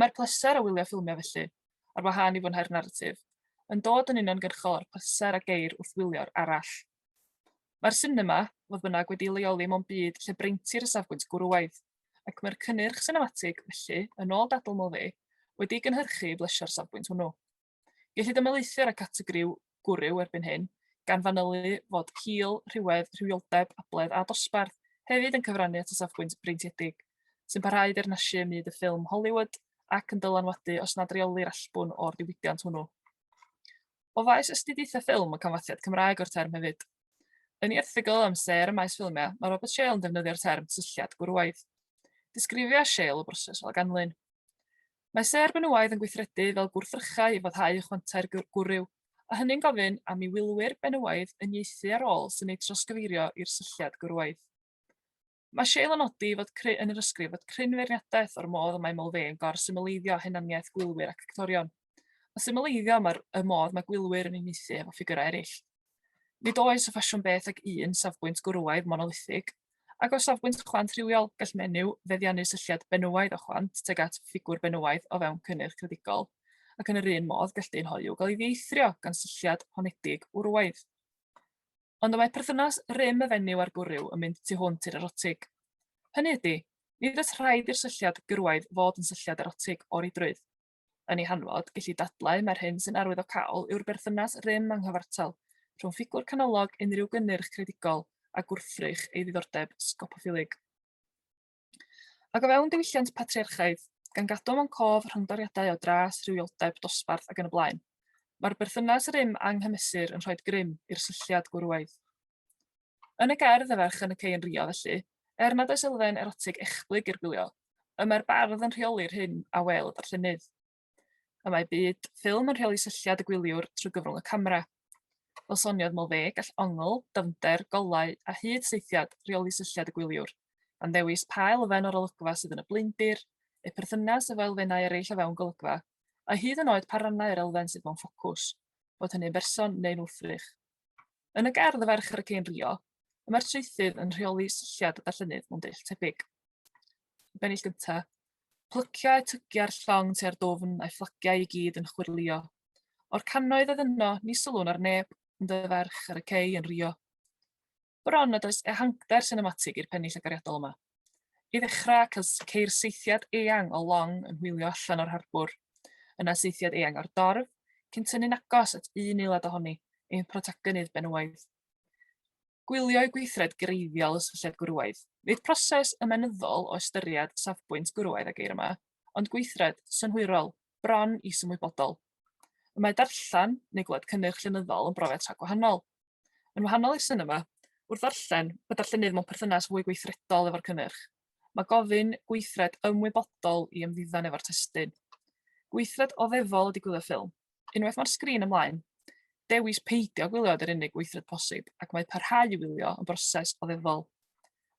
Mae'r pleser o wylio ffilmiau felly, ar wahân i fwynhau'r naratif, yn dod yn uniongyrchol o'r pleser a geir wrth wylio'r arall. Mae'r sinema, fodd bynnag, wedi'i leoli mewn byd lle breintir y safbwynt gwrywaidd, ac mae'r cynnyrch sinematig, felly, yn ôl dadl Mauve, wedi'i gynhyrchu i blesio'r safbwynt hwnnw. Gellid ymelaethu ar y categori 'gwrw' erbyn hyn, gan fanylu fod hil, rhywedd, rhywioldeb, abledd a dosbarth hefyd yn cyfrannu at y safbwynt breintiedig, sy'n parhau i deyrnasu ym myd y ffilm Hollywood ac yn dylanwadu os nad reolir allbwn o'r diwydiant hwnnw. O faes astudiaethau ffilm y canfasiad Cymraeg o'r term hefyd. Yn ei erthygl am sêr y maes ffilmiau, mae Robert Shale yn defnyddio'r term cysylltiad gwrywaidd. Disgrifia Shale y broses fel ganlyn. Mae sêr benywaidd yn gweithredu fel gwrthrychau i foddhau ychwantau'r gwryw, a hynny'n gofyn am i wylwyr benywaidd uniaethu â'r ôl sy'n eu trawsgyfeirio i'r sylliad gwrywaidd. Mae Shale yn nodi fod cry yn yr ysgrif fod cryn feirniadaeth o'r modd y mae Mulvey yn gor-symleiddio hunaniaeth gwylwyr ac actorion, a symleiddio y modd mae gwylwyr yn uniaethu efo ffigyrau eraill. Nid oes y ffasiwn beth ag un safbwynt gwrywaidd monolithig, ac o safbwynt chwant rhywiol, gall menyw feddiannu sylliad benywaidd o chwant tuag at ffigwr benywaidd o fewn cynnyrch credigol, ac yn yr un modd gall dyn hoyw gael ei ddieithrio gan sylliad honedig wrywaidd. Ond y mae perthynas rym y fenyw a'r gwryw yn mynd tu hwnt i'r erotig. Hynny ydy, nid oes rhaid i'r sylliad gyrwaidd fod yn sylliad erotig o reidrwydd. yn ei hanfod, gelli dadlau mai'r hyn sy'n arwyddocaol yw'r berthynas rym a nghyfartal rhwng ffigwr canolog unrhyw gynnyrch creadigol a gwrthrych ei ddiddordeb sgopoffilig. Ac o fewn diwylliant patriarchaidd, gan gadw mewn cof rhyngdoriadau o dras, rhywioldeb, dosbarth ac yn y blaen, mae'r berthynas rym anghymesur yn rhoi grym i'r sylliad gwrywaidd. Yn y gerdd y ferch yn y cei yn rio, felly, er nad oes elfen erotig echblyg i'r gwylio, Y mae'r bardd yn rheoli'r hyn a wel y darllenydd. Y mae byd ffilm yn rheoli sylliad y gwyliwr trwy gyfrwng y camera. Fel soniodd Mulvey, gall ongl, dyfnder, golau a hyd seithiad reoli sylliad y gwyliwr, gan ddewis pa elfen o'r olygfa sydd yn y blaendir, eu perthynas efo elfennau eraill o fewn golygfa, a hyd yn oed pa rannau yr elfen sydd mewn ffocws, bod hynny'n berson neu'n wrthrych. Yn y gerdd Y Ferch ar y Cên Rio, y mae'r traethydd yn rheoli silliad y darllenydd mewn dull tebyg. Y bennill gyntaf, plyciau tygiau'r llong tua'r dwfn a'i fflagiau i gyd yn chwyrlio. O'r cannoedd oedd yno, ni sylwn ar neb, ond y ferch ar y cei yn rio. bron nad oes ehangder sinematig i'r pennill agoriadol yma. I ddechrau, ceir seithiad eang o long yn hwylio allan o'r harbwr, yna seithiad eang o'r dorf, cyn tynnu'n agos at un eilad ohoni, ein protagonydd benywaidd. Gwylio i gweithred greiddiol y sylliad gwrywaidd. Nid proses ymenyddol o ystyried safbwynt gwrywaidd a geir yma, ond gweithred synhwyrol bron is-ymwybodol. Y mae darllen neu glywed cynnyrch llenyddol yn brofiad tra gwahanol. Yn wahanol i'r sinema, wrth ddarllen, mae darllenydd mewn perthynas fwy gweithredol efo'r cynnyrch. Mae gofyn gweithred ymwybodol i ymddiddan efo'r testyn. Gweithred oddefol ydy gwylio ffilm. Unwaith mae'r sgrin ymlaen, dewis peidio gwylio yr unig weithred posib ac mae parhau i wylio yn broses oddefol.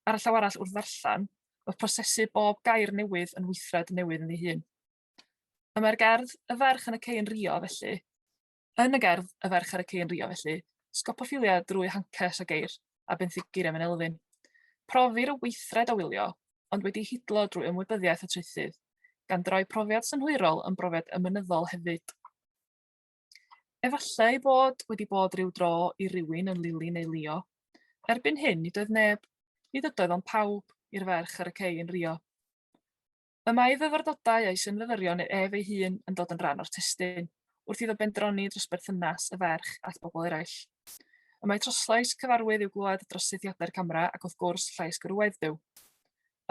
Ar y llaw arall wrth ddarllen, mae prosesu bob gair newydd yn weithred newydd yn ei hun. A mae'r gerdd 'Y Ferch yn y Cei yn Rio' felly, yn y gerdd 'Y Ferch ar y Cei yn Rio' felly, sgopophilia drwy hancers a geir a benthyciria mewn elfyn. Profir y weithred o wylio, ond wedi hidlo drwy ymwybyddiaeth y traethydd, gan droi profiad synhwyrol yn brofiad ymynyddol hefyd. Efallai ei bod wedi bod rhyw dro i rywun yn Lili neu Lio. Erbyn hyn, nid oedd neb, nid ydoedd ond pawb, i'r ferch ar y cei yn Rio. Y mae ei fyfyrdodau a'i synfyfyrion ef ei hun yn dod yn rhan o'r testun, wrth iddo bendroni dros berthynas y ferch at bobl eraill. Y mae troslais cyfarwydd i'w glywed dros sethiadau'r camera ac wrth gwrs llais gwrywaidd Duw.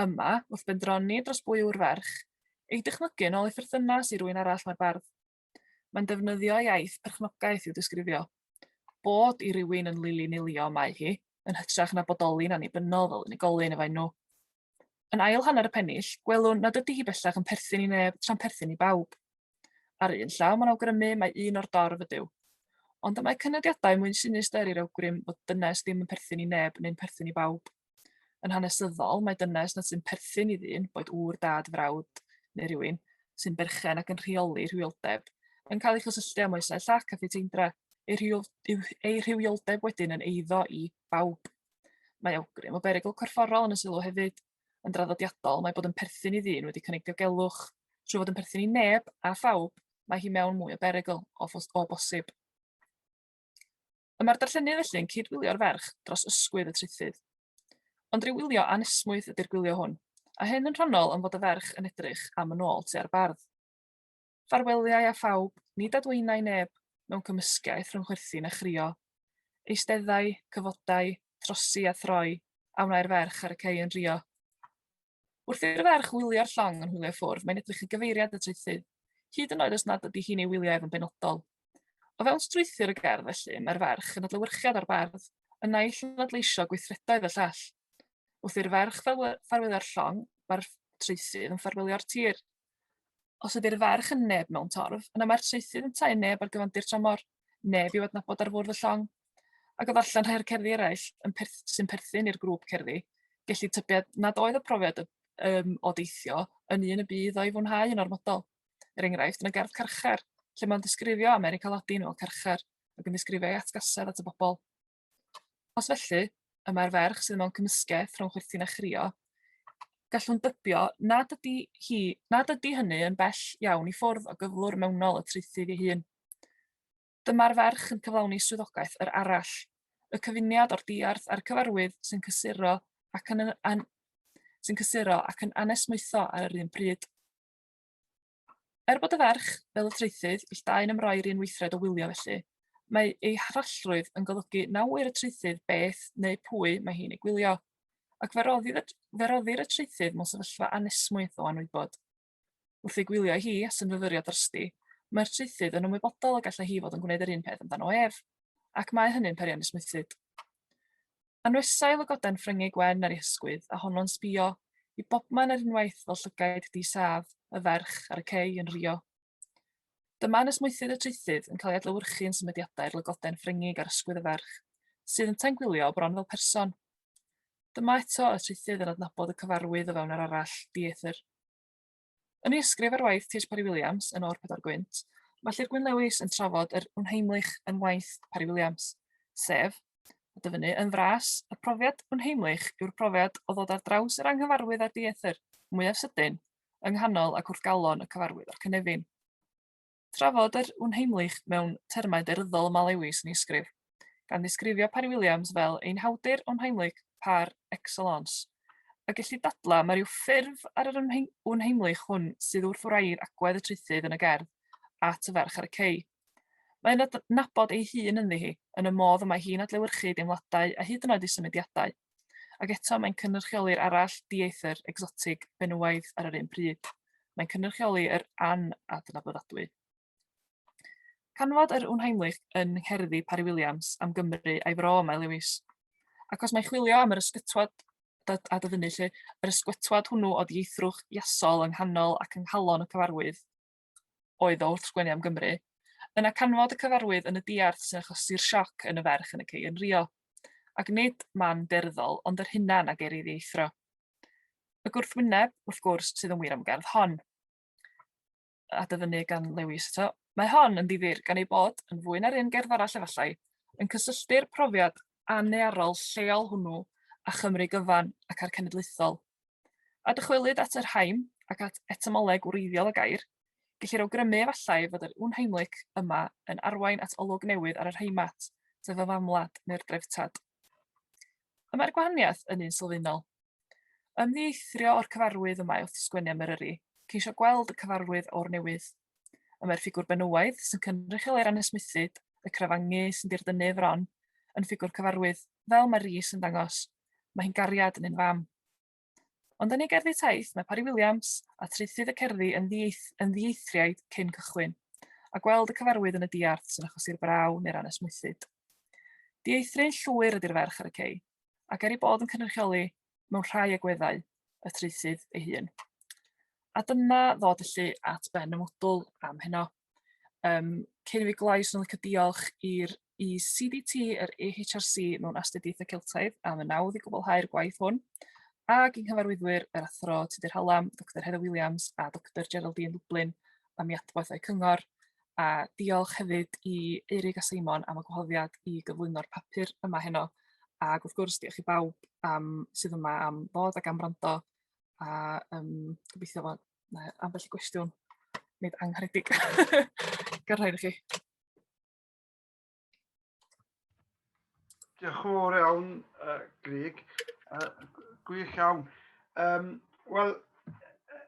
Yma, wrth bendroni dros bwy yw'r ferch, ei dychmygu yn ôl ei pherthynas i rywun arall mae'r bardd. Mae'n defnyddio iaith perchnogaeth i'w disgrifio. Bod i rywun yn lili nilio mae hi, yn hytrach na bodoli'n annibynnol fel unigolyn efo'i nhw. Yn ail hanner y pennill, gwelwn nad ydy hi bellach yn perthyn i neb tra'n perthyn i bawb. Ar un llaw mae'n awgrymu mae un o'r dorf ydyw. Ond y mae cynodiadau mwyn sinistr i'r awgrym bod dynes ddim yn perthyn i neb neu'n perthyn i bawb. Yn hanesyddol, mae dynes nad sy'n perthyn i ddyn, boed ŵr, dad, frawd neu rywun, sy'n berchen ac yn rheoli rhywioldeb, yn cael ei chysylltu â moesau llac a phiteindra, ei, rhyw, ei rhywioldeb wedyn yn eiddo i bawb. Mae awgrym o berygl corfforol yn y sylw hefyd yn draddodiadol, mae bod yn perthyn i ddyn wedi cynnig diogelwch, trwy fod yn perthyn i neb a phawb, mae hi mewn mwy o berygl o, o bosib. Y mae'r darllenydd felly yn cyd-wylio'r ferch dros ysgwydd y traethydd. Ond rhyw wylio anesmwyth ydy'r gwylio hwn, a hyn yn rhannol am fod y ferch yn edrych am yn ôl tua'r bardd. Ffarweliau a phawb, nid adwaenai neb, mewn cymysgaeth rhwng chwerthin a chrio. Eisteddai, cyfodai, trosi a throi, a wnae'r ferch ar y cei yn rio. Wrth i'r ferch wylio'r llong yn hwylio ffwrdd, mae'n edrych i gyfeiriad y traethu, hyd yn oed os nad ydy hi'n ei wylio ef yn benodol. O fewn strwythur y gerdd, felly, mae'r ferch yn adlewyrchiad o'r bardd, y naill yn adleisio gweithredoedd y llall. Wrth i'r ferch ffarwyddo'r llong, mae'r traethydd yn ffarwylio'r tir. Os ydy'r ferch yn neb mewn torf, yna mae'r traethydd yn tau neb ar gyfandir tramor, neb i'w adnabod ar fwrdd y llong. Ac o ddarllen rhai o'r cerddi eraill yn perth, sy'n perthyn i'r grŵp cerddi, gelli tybied nad oedd y profiad y, um, o deithio yn un y bydd o'i fwynhau yn ormodol. Er enghraifft, yn y gerdd Carchar, lle mae'n ddisgrifio America Latin fel carchar, ac yn ddisgrifio ei atgasedd at y bobl. Os felly, y mae'r ferch sydd mewn cymysgedd rhwng chwerthin a chrio, gallwn dybio nad ydy, hi, nad ydy hynny yn bell iawn i ffwrdd o gyflwr mewnol y traethydd ei hun. Dyma'r ferch yn cyflawni swyddogaeth yr arall, y cyfuniad o'r diarth a'r cyfarwydd sy'n cysuro ac yn, an, sy'n cysuro ac yn anesmwytho ar yr un pryd. Er bod y ferch, fel y traethyd, ill dau yn ymroi'r un weithred o wylio felly, mae ei harallrwydd yn golygu na ŵyr y traethyd beth neu pwy mae hi'n ei gwylio, ac fe roddir y, fe roddir y traethyd mewn sefyllfa anesmwyth o anwybod. Wrth ei gwylio hi, a synfyfyrio drosti, mae'r traethyd yn ymwybodol y gallai hi fod yn gwneud yr un peth amdano ef, ac mae hynny'n peri anesmwythyd. Anwesa'i lygoden Ffryngig Wen ar ei hysgwydd, a honno'n sbïo i bobman ar unwaith fel llygaid di-sâf y ferch ar y cei yn rhuo. Dyma anesmwythydd y traethydd yn cael ei adlewyrchu yn symudiadau'r lygoden Ffryngig ar ysgwydd y ferch, sydd yntau'n gwylio bron fel person. Dyma eto y traethydd yn adnabod y cyfarwydd o fewn yr arall, dieithr. Yn ei ysgrif ar waith Tish Parry-Williams yn O'r Pedwar Gwynt, mae Llyr Gwyn Lewis yn trafod yr unheimlich yn waith Parry-Williams, sef, a dyfynnu yn fras, y profiad unheimlich yw'r profiad o ddod ar draws yr anghyfarwydd a'r dieithr, mwyaf sydyn, yng nghanol ac wrth galon y cyfarwydd a'r cynefin. Trafod yr unheimlych mewn termau daearyddol y mae Lewis yn ei ysgrif, gan ddisgrifio Parry Williams fel ein hawdur unheimlych par excellence. Y gellid dadlau mae rhyw ffurf ar yr unheimlych hwn sydd wrth wraidd agwedd y traethydd yn y gerdd at y ferch ar y cei. Mae yn adnabod ei hun ynddi hi, yn y modd y mae hi'n adlewyrchu deimladau a hyd yn oed ei symudiadau. Ac eto, mae'n cynrychioli'r arall, dieithr, egsotig, benywaidd ar yr un pryd. Mae'n cynrychioli yr anadnabyddadwy. Canfod yr Unheimlich yn ngherddi Parry Williams am Gymru a'i fro, mae Lewis. Ac os mae chwilio am yr ysgytwad a dyfynnu lle, yr ysgwetwad hwnnw o ddieithrwch iasol yng nghanol ac yng nghalon y cyfarwydd, oedd o wrth sgwennu am Gymru. Yna canfod y cyfarwydd yn y diarth sy'n achosi'r sioc yn y ferch yn y cei yn Rio. Ac nid man beirddol, ond yr hunan a geir ei ddieithro. Y gwrthwyneb, wrth gwrs, sydd yn wir am gerdd hon. A dyfynnu gan Lewis eto. Mae hon yn ddifyr gan ei bod, yn fwy na'r un gerdd arall efallai, yn cysylltu'r profiad annearol lleol hwnnw a Chymru gyfan ac a'r cenedlaethol. A dychwelyd at yr haim ac at etymolleg wreiddiol y gair, gellir awgrymu efallai fod yr unheimlyc yma yn arwain at olwg newydd ar yr heimat, sef y famwlad neu'r dreftad. Y mae'r gwahaniaeth yn un sylfaenol. Ymddieithrio o'r cyfarwydd y mae wrth sgwennu am Eryri, ceisio gweld y cyfarwydd o'r newydd. Y mae'r ffigwr benywaidd sy'n cynrychioli ran ysmythyd, y crafangu sy'n dirdynnu fron, yn ffigwr cyfarwydd, fel mae Rhys yn dangos, Mae hi'n gariad yn un fam. Ond yn ei gerddi taith, mae Parry Williams a traethydd y cerddi yn, ddieith, yn ddieithriaid cyn cychwyn, a gweld y cyfarwydd yn y diarth sy'n achosi'r braw neu'r anesmwythyd. Dieithrin llwyr ydy'r ferch ar y cei, ac er ei bod yn cynrychioli mewn rhai agweddau y traethydd ei hun. A dyna ddod y llu at ben y mwdwl am heno. Um, cyn i fi gloi, swn licio diolch i'r i CDT, yr EHRC mewn astudiaethau Celtaidd am y nawdd i gwblhau'r gwaith hwn, ac yng nghyfarwyddwyr yr athro Tudur Hallam, Dr Heather Williams a Dr Geraldine Lublin am i adwaith o'i cyngor, a diolch hefyd i Eirig a Simon am y gwahoddiad i gyflwyno'r papur yma heno, ac wrth gwrs diolch i bawb am, sydd yma am ddod ac am rando, a um, gobeithio fod Mae ambell i gwestiwn nid angharedig. Gan rhaid i chi. Diolch yn fawr iawn, uh, Grig. Uh, gwych iawn. Um, Wel,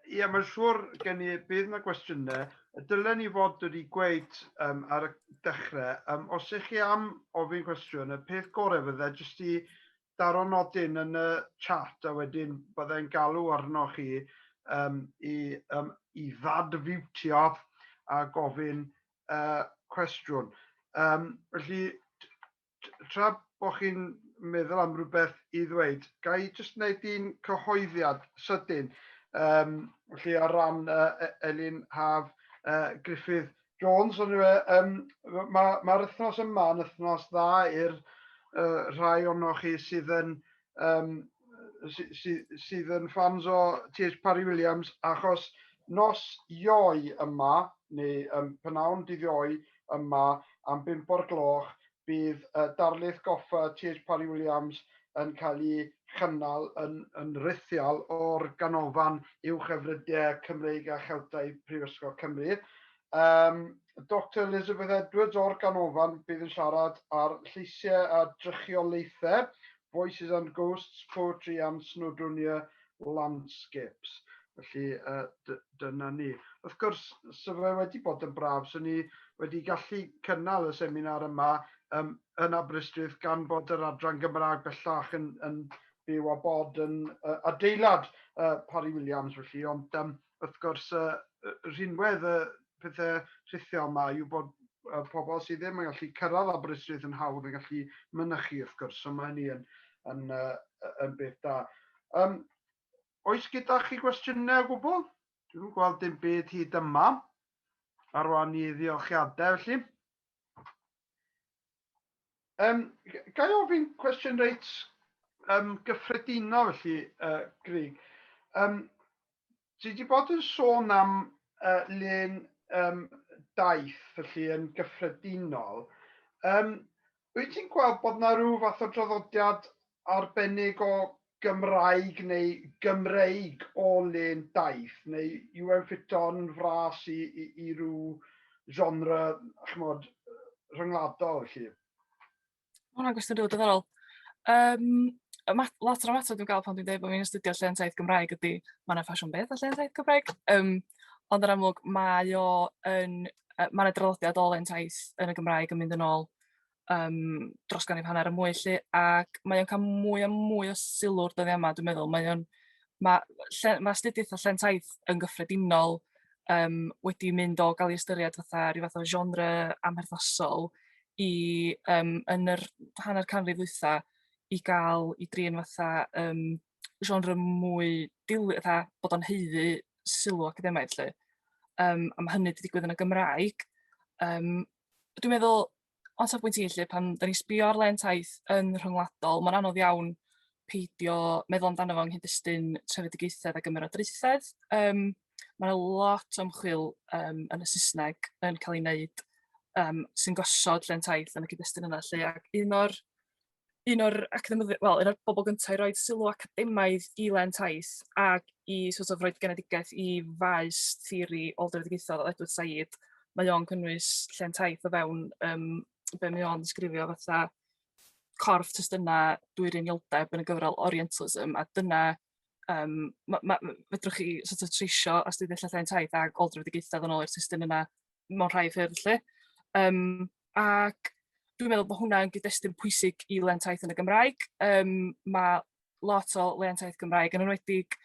ie, mae'n siŵr gen i bydd yna gwestiynau. Dylen ni fod wedi gweud um, ar y dechrau, um, os ych chi am ofyn cwestiwn, y peth gorau fydde jyst i daro nodyn yn y chat a wedyn bydda i'n galw arnoch chi um, i, um, i ddadfiwtio a gofyn uh, cwestiwn. Um, felly, tra bod chi'n meddwl am rhywbeth i ddweud, ga i jyst wneud un cyhoeddiad sydyn, um, felly ar ran uh, Elin Haf uh, Griffith Jones, ond yw e, um, mae'r ma wythnos yma yn wythnos dda i'r uh, rhai ono chi sydd yn um, sydd, sydd, sydd yn ffans o T.H. Parry Williams, achos nos ioi yma, neu um, penawn dydd ioi yma, am bimp o'r gloch, bydd y darlith goffa Chase Parry Williams yn cael ei chynnal yn yn rithiol o'r Ganolfan Uwch Efrydiau Cymreig a Cheltaidd Prifysgol Cymru. Um, Dr Elizabeth Edwards o'r Ganolfan bydd yn siarad ar lleisiau a drychiolaethau Voices and Ghosts, Poetry and Snowdonia Landscapes. Felly, uh, dyna ni. Wrth gwrs, so fe wedi bod yn braf, so ni wedi gallu cynnal y seminar yma um, yn Aberystwyth gan bod yr adran Gymraeg bellach yn, yn byw a bod yn uh, adeilad uh, Parry Williams, felly, ond um, wrth gwrs y rhinwedd y pethau rhithiol yma yw bod y pobl sydd ddim yn gallu cyrraedd Aberystwyth yn hawdd yn gallu mynychu wrth gwrs, so mae hynny yn, yn, yn, yn beth da. Um, oes gyda chi gwestiynau o gwbl? Dwi'n gweld dim byd hyd yma. Arwain i ddiolchiadau felly. Um, ga i ofyn cwestiwn reit um, gyffredinol felly, uh, Grig. Um, ti wedi bod yn sôn am uh, lun um, daith felly yn gyffredinol. Um, wyt ti'n gweld bod yna rhyw fath o draddodiad arbennig o Gymraeg neu Gymreig o len daith, neu yw e'n ffito'n fras i, i, i ryw genre, chymod, rhyngwladol, felly? Mae hwnna'n gwestiwn rili diddorol. Um, lot o'r ymateb dwi'n gael pan dwi'n dweud bod fi'n astudio llen taith Gymraeg ydy, mae yna ffasiwn beth o llen taith Gymraeg. Um, ond yr amlwg, mae o yn, mae yna draddodiad o llen taith yn y Gymraeg yn mynd yn ôl yym dros ganrif hanner a mwy 'lly ac mae o'n ca'l mwy a mwy o sylw'r dyddia' yma dwi'n meddwl mae o'n ma' lle ma' astudiaeth a lle'n taith yn gyffredinol yym wedi mynd o ga'l 'i ystyried fatha ryw fath o genre amherthnasol i yym yn yr hanner canrif ddwytha' i ga'l 'i drin fatha yym genre mwy dil- fatha bod o'n haeddu sylw academaidd 'lly. Yym a ma' hynny 'di digwydd yn y Gymraeg yym dwi'n meddwl o safbwynt i 'lly pan 'dan ni'n sbio ar len taith yn rhyngwladol ma'n anodd iawn peidio meddwl amdano fo yng nghyd-destun trefedigaethedd ag ymerodraethedd yym ma' 'na lot o ymchwil yym yn y Sysneg yn ca'l ei neud yym sy'n gosod len taith yn y cyd-destun yna lly ac un o'r un o'r academyddi- wel, un o'r bobl gyntaf i roi sylw academaidd i Len Taith ac i sort of roi genedigaeth i faes theori ôl-drefedigaethol o Edward Said. Mae o'n cynnwys Len Taith o fewn um, be mae o'n ddisgrifio fatha corff testunau dwy'r unioldeb yn y gyfrol Orientalism, a dyna um, ma, ma, fedrwch chi sort of treisio astudiaethau Len Taith ac ôl-drefedigaethau yn ôl i'r testun yna mewn rhai ffyrdd lle. Um, ac dwi'n meddwl bod hwnna'n gyd-destun pwysig i lentaeth yn y Gymraeg. Um, mae lot o lentaeth Gymraeg yn enwedig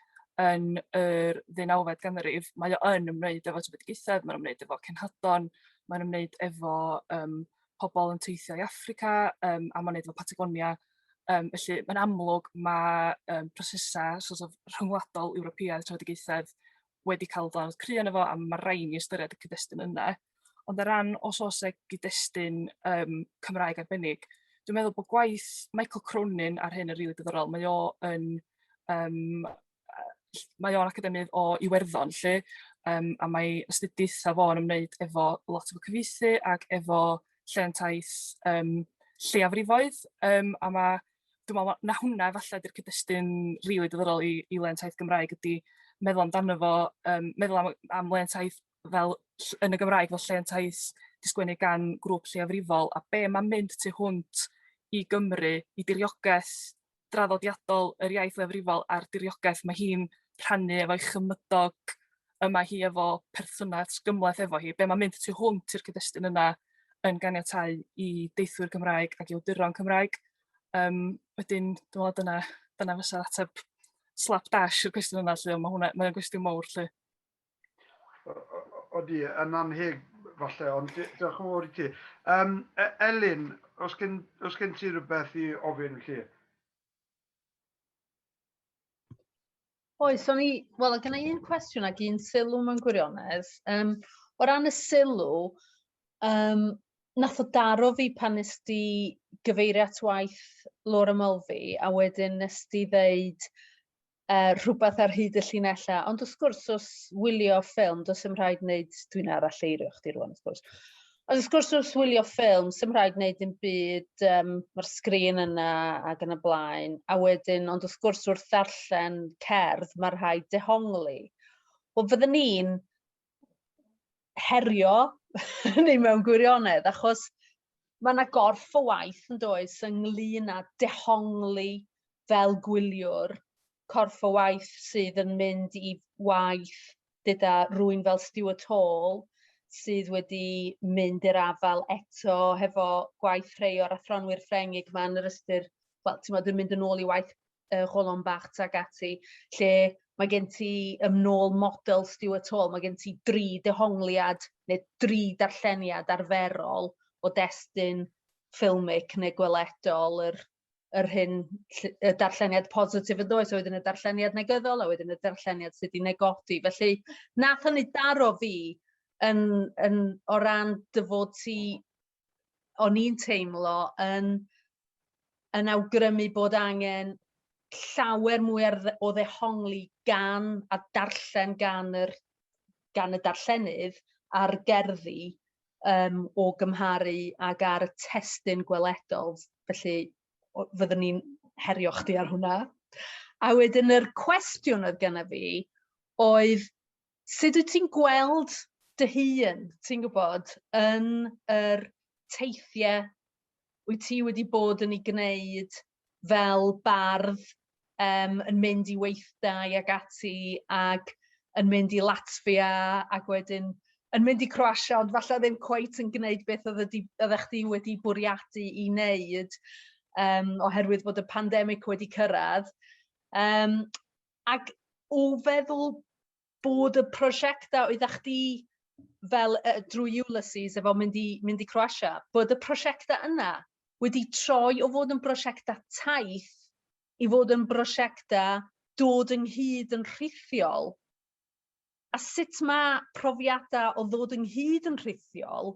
yn yr ddeunawfed ganrif, mae o yn ymwneud efo trefedigaethau, mae'n ymwneud efo cenhadon, mae'n ymwneud efo um, pobl yn teithio i Africa, um, a mae'n ymwneud efo Patagonia. Um, felly, mae'n amlwg mae um, prosesau sort of, rhyngwladol Ewropeaidd trefedigaethau wedi cael dod cry yn efo, a mae rhaid ni ystyried y cyd-destun yna. ond o ran os oes 'na gyd-destun yym Cymraeg arbennig dwi'n meddwl bod gwaith Michael Cronin ar hyn yn rili diddorol, mae o yn yym yy mae o'n academydd o Iwerddon 'lly yym a mae astudiaethau fo yn ymwneud efo lot efo cyfieithu ac efo lleantaeth yym lleiafrifoedd yym a ma' dwi me'wl ma' 'na hwnna efalla 'di'r cyd-destun rili diddorol i i lensaith Gymraeg ydi meddwl amdano fo yym meddwl am y am lensaith fel yn y Gymraeg fel lle yntais 'di sgwennu gan grŵp lleiafrifol a be' ma'n mynd tu hwnt i Gymru, i diriogaeth draddodiadol yr iaith leiafrifol a'r diriogaeth mae hi'n rhannu efo'i chymydog y mae hi efo perthynas gymhleth efo hi, be' ma'n mynd tu hwnt i'r cyd-destun yna yn ganiatáu i deithwyr Cymraeg ac i awduron Cymraeg. Yym wedyn dwi me'wl dyna dyna fysa'r ateb slap dash i'r cwestiwn yna lly ond ma' hwnna mae'n gwestiwn mowr lly. Odi, yn anheg falle, ond diolch yn fawr i ti. Um, Elin, os gen, os gen ti rhywbeth i ofyn chi? Oes, o'n i, wel, gen i un cwestiwn ac un sylw mewn gwirionedd. Um, o ran y sylw, um, nath o daro fi pan nes di gyfeirio at waith Laura Mulvey, a wedyn nes di ddeud uh, rhywbeth ar hyd y llinellau. Ond wrth gwrs, os wylio ffilm, does dim rhaid wneud, dwi'n arall eirio chdi rwan, wrth gwrs. Ond wrth gwrs, wrth wylio ffilm, sy'n rhaid wneud dim byd, um, mae'r sgrin yna ac yn y blaen. A wedyn, ond wrth gwrs, wrth ddarllen cerdd, mae rhaid dehongli. Wel, fydden ni'n herio ni mewn gwirionedd, achos mae yna gorff o waith yn does ynglyn â dehongli fel gwyliwr, corff o waith sydd yn mynd i waith gyda rwy'n fel Stuart Hall, sydd wedi mynd i'r afael eto hefo gwaith rhai o'r athronwyr Ffrengig yma yn yr ystyr, wel, ti'n modd, yn mynd yn ôl i waith y Gholon Bach tuag ati, lle mae gen ti ym nôl model Stuart Hall, mae gen ti dri dehongliad neu dri darlleniad arferol o destun ffilmic neu gweledol yr yr hyn y darlleniad positif yn does, a wedyn y darlleniad negyddol, a wedyn y darlleniad sydd wedi negodi. Felly, nath hynny daro fi yn, yn, o ran dy fod ti o'n i'n teimlo yn yn awgrymu bod angen llawer mwy ar dde- o ddehongli gan a darllen gan yr gan y darllenydd a'r gerddi yym o gymharu ag ar y testun gweledol felly o- fyddwn i'n herio chdi ar hwnna. A wedyn yr cwestiwn oedd genna fi oedd Sut wyt ti'n gweld dy hun, ti'n gwybod, yn yr teithiau wyt ti wedi bod yn ei gwneud fel bardd, um, yn mynd i weithdai ac ati, ac yn mynd i Latvia, ac wedyn yn mynd i Croatia, ond falle ddim cweit yn gwneud beth oedd oeddech chdi wedi bwriadu i wneud, um, oherwydd bod y pandemig wedi cyrraedd. Um, Ac o feddwl bod y prosiectau oedda chdi fel uh, drwy Ulysses efo mynd i, mynd i Croatia, bod y prosiectau yna wedi troi o fod yn brosiectau taith i fod yn brosiectau dod ynghyd yn rhithiol. A sut mae profiadau o ddod ynghyd yn rhithiol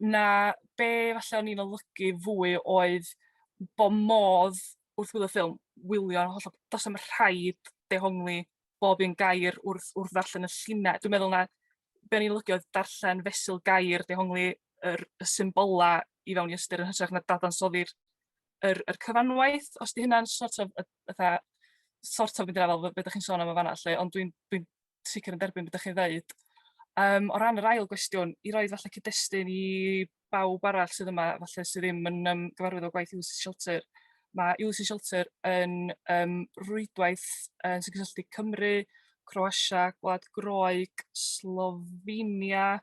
na be falle o'n i'n olygu fwy oedd bo modd wrth wylio ffilm wylio hollol do's na'm rhaid dehongli bob un gair wrth wrth ddarllen y llinell. Dwi'n meddwl na be' o'n i'n olygu oedd darllen fesul gair dehongli yr y symbola i fewn i ystyr yn hytrach na dadansoddi'r yr yr cyfanwaith os 'di hynna'n sort of yy fatha sort of mynd i'r afael be' dach chi'n sôn am yn fan 'na lly ond dwi'n dwi'n sicr yn derbyn beth dach chi'n ddeud. Um, o ran yr ail gwestiwn, i roi falle cyd-destun i bawb arall sydd yma, falle sydd ddim yn um, gyfarwydd o gwaith Ulysses Shelter, mae Ulysses Shelter yn um, rwydwaith uh, sy'n cysylltu Cymru, Croatia, Gwlad Groeg, Slovenia,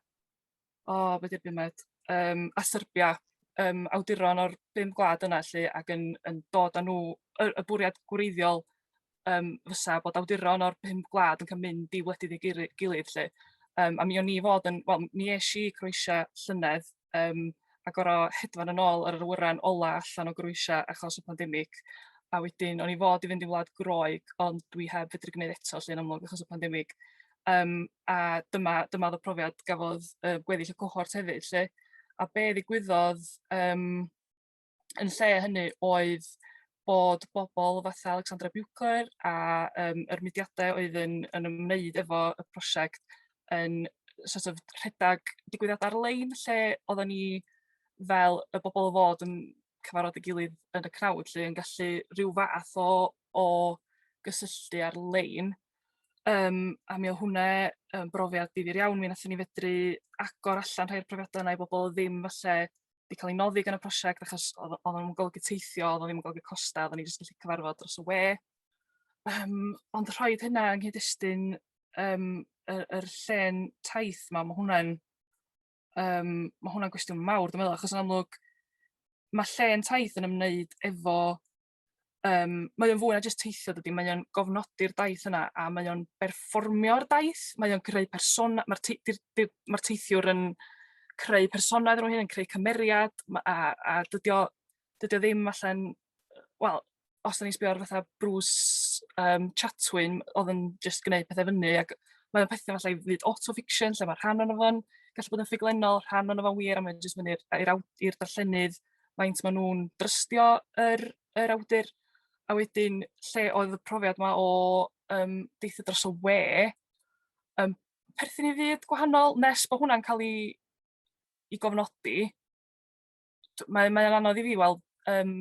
o be 'di'r bumed yym a Serbia yym awduron o'r bum gwlad yna 'lly ac yn yn dod â nhw y y bwriad gwreiddiol yym fysa bod awduron o'r pum gwlad yn ca'l mynd i wledydd ei guru- gilydd 'lly yym a mi o'n i fod yn wel mi esh i i Croatia llynedd yym a gor'o' hedfan yn ôl ar yr awyren ola allan o Groatia achos y pandemic a wedyn o'n i fod i fynd i wlad Groeg ond dwi heb fedru gneud eto 'lly yn amlwg achos y pandemic Yym, a dyma dyma oedd y profiad gafodd yy gweddill y cohort hefyd 'lly. A be' ddigwyddodd yym yn lle hynny oedd bod bobl fatha Alexandra Buechler a yym yr mudiadau oedd yn yn ymwneud efo y prosiect yn sort of rhedeg digwyddiad ar-lein lle oedden ni fel y bobl o fod yn cyfarfod ei gilydd yn y crowd 'lly yn gallu rhyw fath o o gysylltu ar-lein. Yym a mi o' hwnne yn brofiad difyr iawn mi nathon ni fedru agor allan rhai o'r profiada' yna i bobol odd ddim falle 'di ca'l 'i noddi gan y prosiect achos odd o o'dd o'n golygu teithio odd o ddim yn golygu costa' oddan ni jyst gallu cyfarfod dros y we. Yym ond rhoid hynna yng nghyd-destun yym y yr llên taith 'ma ma' hwnna'n yym ma' hwnna'n gwestiwn mawr dwi meddwl achos yn amlwg ma' llên taith yn ymwneud efo um, mae o'n fwy na jyst teithio dydy, mae o'n gofnodi'r daith yna a mae o'n berfformio'r daith, mae o'n creu person, mae'r te, ma teithiwr yn creu personau nhw hyn, yn creu cymeriad a, a dydy, o, dydy o ddim allan, wel, os da ni'n sbio ar fatha Bruce um, Chatwin, oedd yn just gwneud pethau fyny, ac mae o'n pethau falle i fyd autofiction, lle mae rhan o'n o'n gallu bod yn ffuglenol, rhan o'n o'n wir, a mae'n just mynd i'r darllenydd, faint maen nhw'n drystio yr yr awdur, a wedyn lle oedd y profiad 'ma o yym deithio dros y we yn perthyn i fyd gwahanol nes bod hwnna'n cael ei ei gofnodi. D- Mae mae o'n anodd i fi weld yym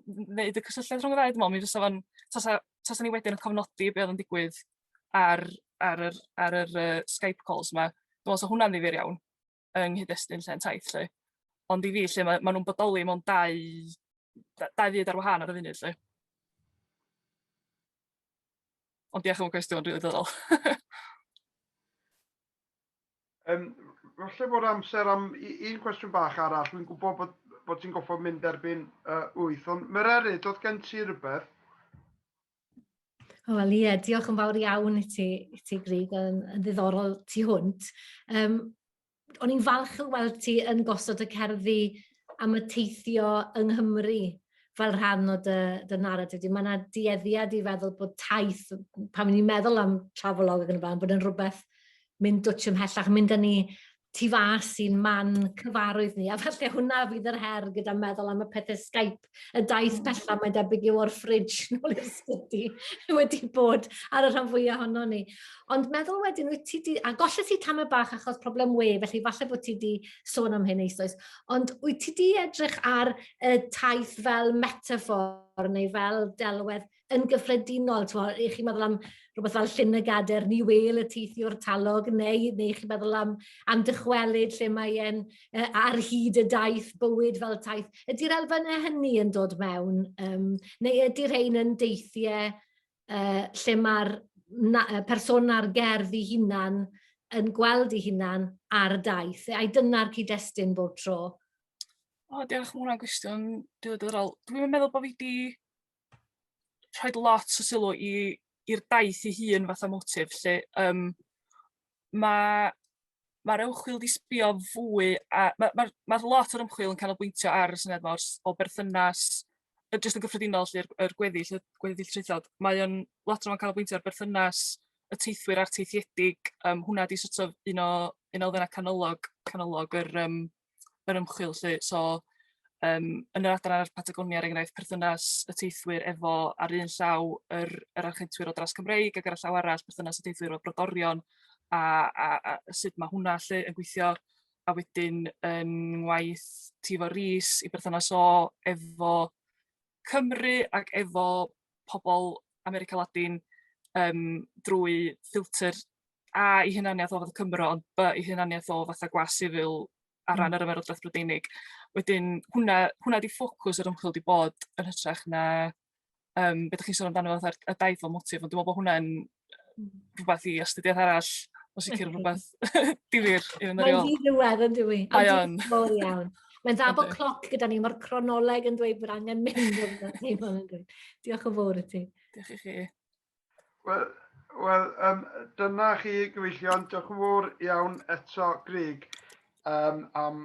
n- wneud y cysylltiad rhwng y ddau dwi me'wl mi fysa fo'n tasa tasa ni wedyn yn cofnodi be' oedd yn digwydd ar ar yr ar yr yy Skype calls 'ma dwi me'wl 'sa hwnna'n ddifyr iawn. yng nghyd-destun lle yn taith lle. Ond i fi lle mae, mae nhw'n bodoli mewn dau, dau fyd ar wahân ar y funud lle. Ond diolch am y cwestiwn, rili ddyddol. um, falle bod amser am un cwestiwn bach arall. Dwi'n gwybod bod, bod ti'n goffod mynd erbyn uh, wyth, ond Mererid, oedd gen ti rhywbeth? Wel ie, diolch yn fawr iawn i ti, i ti Grug, yn, yn ddiddorol tu hwnt. Um, o'n i'n falch o weld ti yn gosod y cerddi am y teithio yng Nghymru fel rhan o dy, dy naratif. Mae yna dueddiad i feddwl bod taith, pan ni'n meddwl am travelog ac yn y blaen, bod yn rhywbeth mynd dwtch ymhellach, mynd â ni tu fas i'n man cyfarwydd ni, a falle hwnna fydd yr her gyda meddwl am y pethe Skype, y daith hmm. bella mae'n debyg yw o'r ffridge nôl i'r sgwti wedi bod ar y rhan fwyaf ohono ni. Ond meddwl wedyn, wyt ti di, a golle ti tam y bach achos problem we, felly falle bod ti di sôn am hyn eisoes, ond wyt ti di edrych ar y taith fel metafor neu fel delwedd yn gyffredinol, t'mod, i chi meddwl am rhywbeth fel Llyn y Gader, ni wêl y teithiwr talog, neu neu chi meddwl am am dychwelyd lle mae e'n yy ar hyd y daith, bywyd fel taith. Ydy'r elfennau hynny yn dod mewn, yym, neu ydy rhein yn deithiau yy lle mae'r na- yy persona'r gerdd ei hunan yn gweld ei hunan ar daith, a dyna'r cyd-destun bob tro? O, diolch, ma' hwnna'n gwestiwn diddorol. Dwi'm yn meddwl bo' fi 'di rhoi lot o sylw i i'r daith ei hun fatha motif lle um, mae mae'r ymchwil wedi sbio fwy a mae'r ma, ma, ma lot o'r ymchwil yn canolbwyntio ar y syniad mor o berthynas jyst yn gyffredinol lle'r er gweddill, y gweddill traethod, mae o'n lot o'n canolbwyntio ar berthynas y teithwyr a'r teithiedig, um, hwnna di sort of un o un o elfennau canolog, canolog yr, um, yr ymchwil 'lly so yym yn yr adran ar Patagonia er enghraifft perthynas y teithwyr efo ar un llaw yr yr architwyr o dras Cymreig ag ar y llaw arall perthynas y teithwyr o brodorion a a a sut ma' hwnna 'lly yn gweithio a wedyn yn ngwaith Tifo Rees i berthynas o efo Cymru ac efo pobl America Ladin yym drwy ffilter A i hunaniaeth o fath Cymro, ond B i hunaniaeth o fatha gwas sifil ar hmm. ran yr ymerodraeth Brydeinig. Wedyn, hwnna, hwnna di ffocws yr ymchwil di bod yn hytrach na um, beth ydych chi'n sôn amdano fath y daith fel motif, ond dwi'n meddwl bod hwnna'n hmm. rhywbeth i astudiaeth arall, o sicr rhywbeth difyr i fynd ar ôl. Mae'n ddi ddiwedd yn dwi. Mae o'n. Mor iawn. Mae'n dda bod cloc gyda ni, mae'r cronoleg yn dweud bod angen mynd o'n dweud. Diolch yn fawr i ti. Diolch i chi. Wel, wel um, dyna chi gyfeillion. Diolch yn fawr iawn eto, Greg, um, am,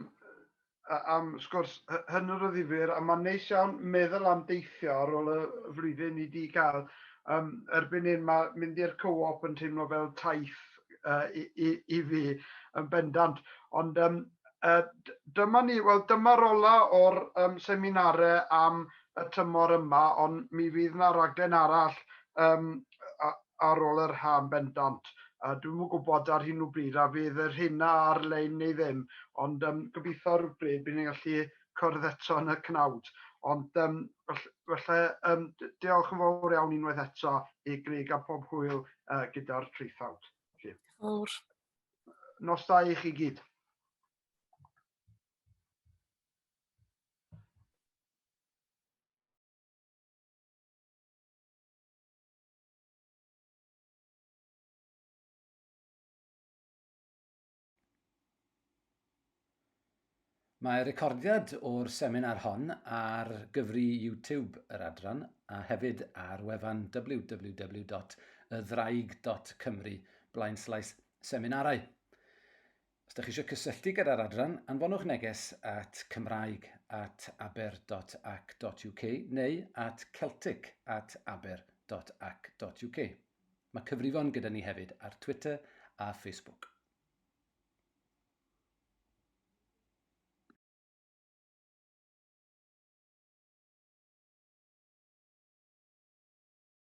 am sgwrs hynny'r o ddifur. A mae'n neis iawn meddwl am deithio ar ôl y flwyddyn i di gael. Um, erbyn hyn mae mynd i'r co-op yn teimlo fel taith uh, i, i, i fi yn bendant. Ond um, uh, dyma ni, wel dyma'r ola o'r um, seminare am y tymor yma ond mi fydd 'na raglen arall yym ar ôl yr ha' yn bendant. Yy dwi'm yn gwybod ar hyn o bryd a fydd y rheina ar-lein neu ddim ond yym gobeithio rywbryd bydd ni'n gallu cwrdd eto yn y cnawd. Ond yym felly yym diolch yn fawr iawn unwaith eto i Grug a pob hwyl yy gyda'r traethawd. Felly. Fawr. Nos da i chi gyd. Mae recordiad o'r seminar hon ar gyfri YouTube yr adran a hefyd ar wefan www.ydddraig.cymru blaenslaes seminarau. Os ydych chi eisiau cysylltu gyda'r adran, anfonwch neges at cymraeg at aber.ac.uk neu at celtic at aber.ac.uk. Mae cyfrifon gyda ni hefyd ar Twitter a Facebook.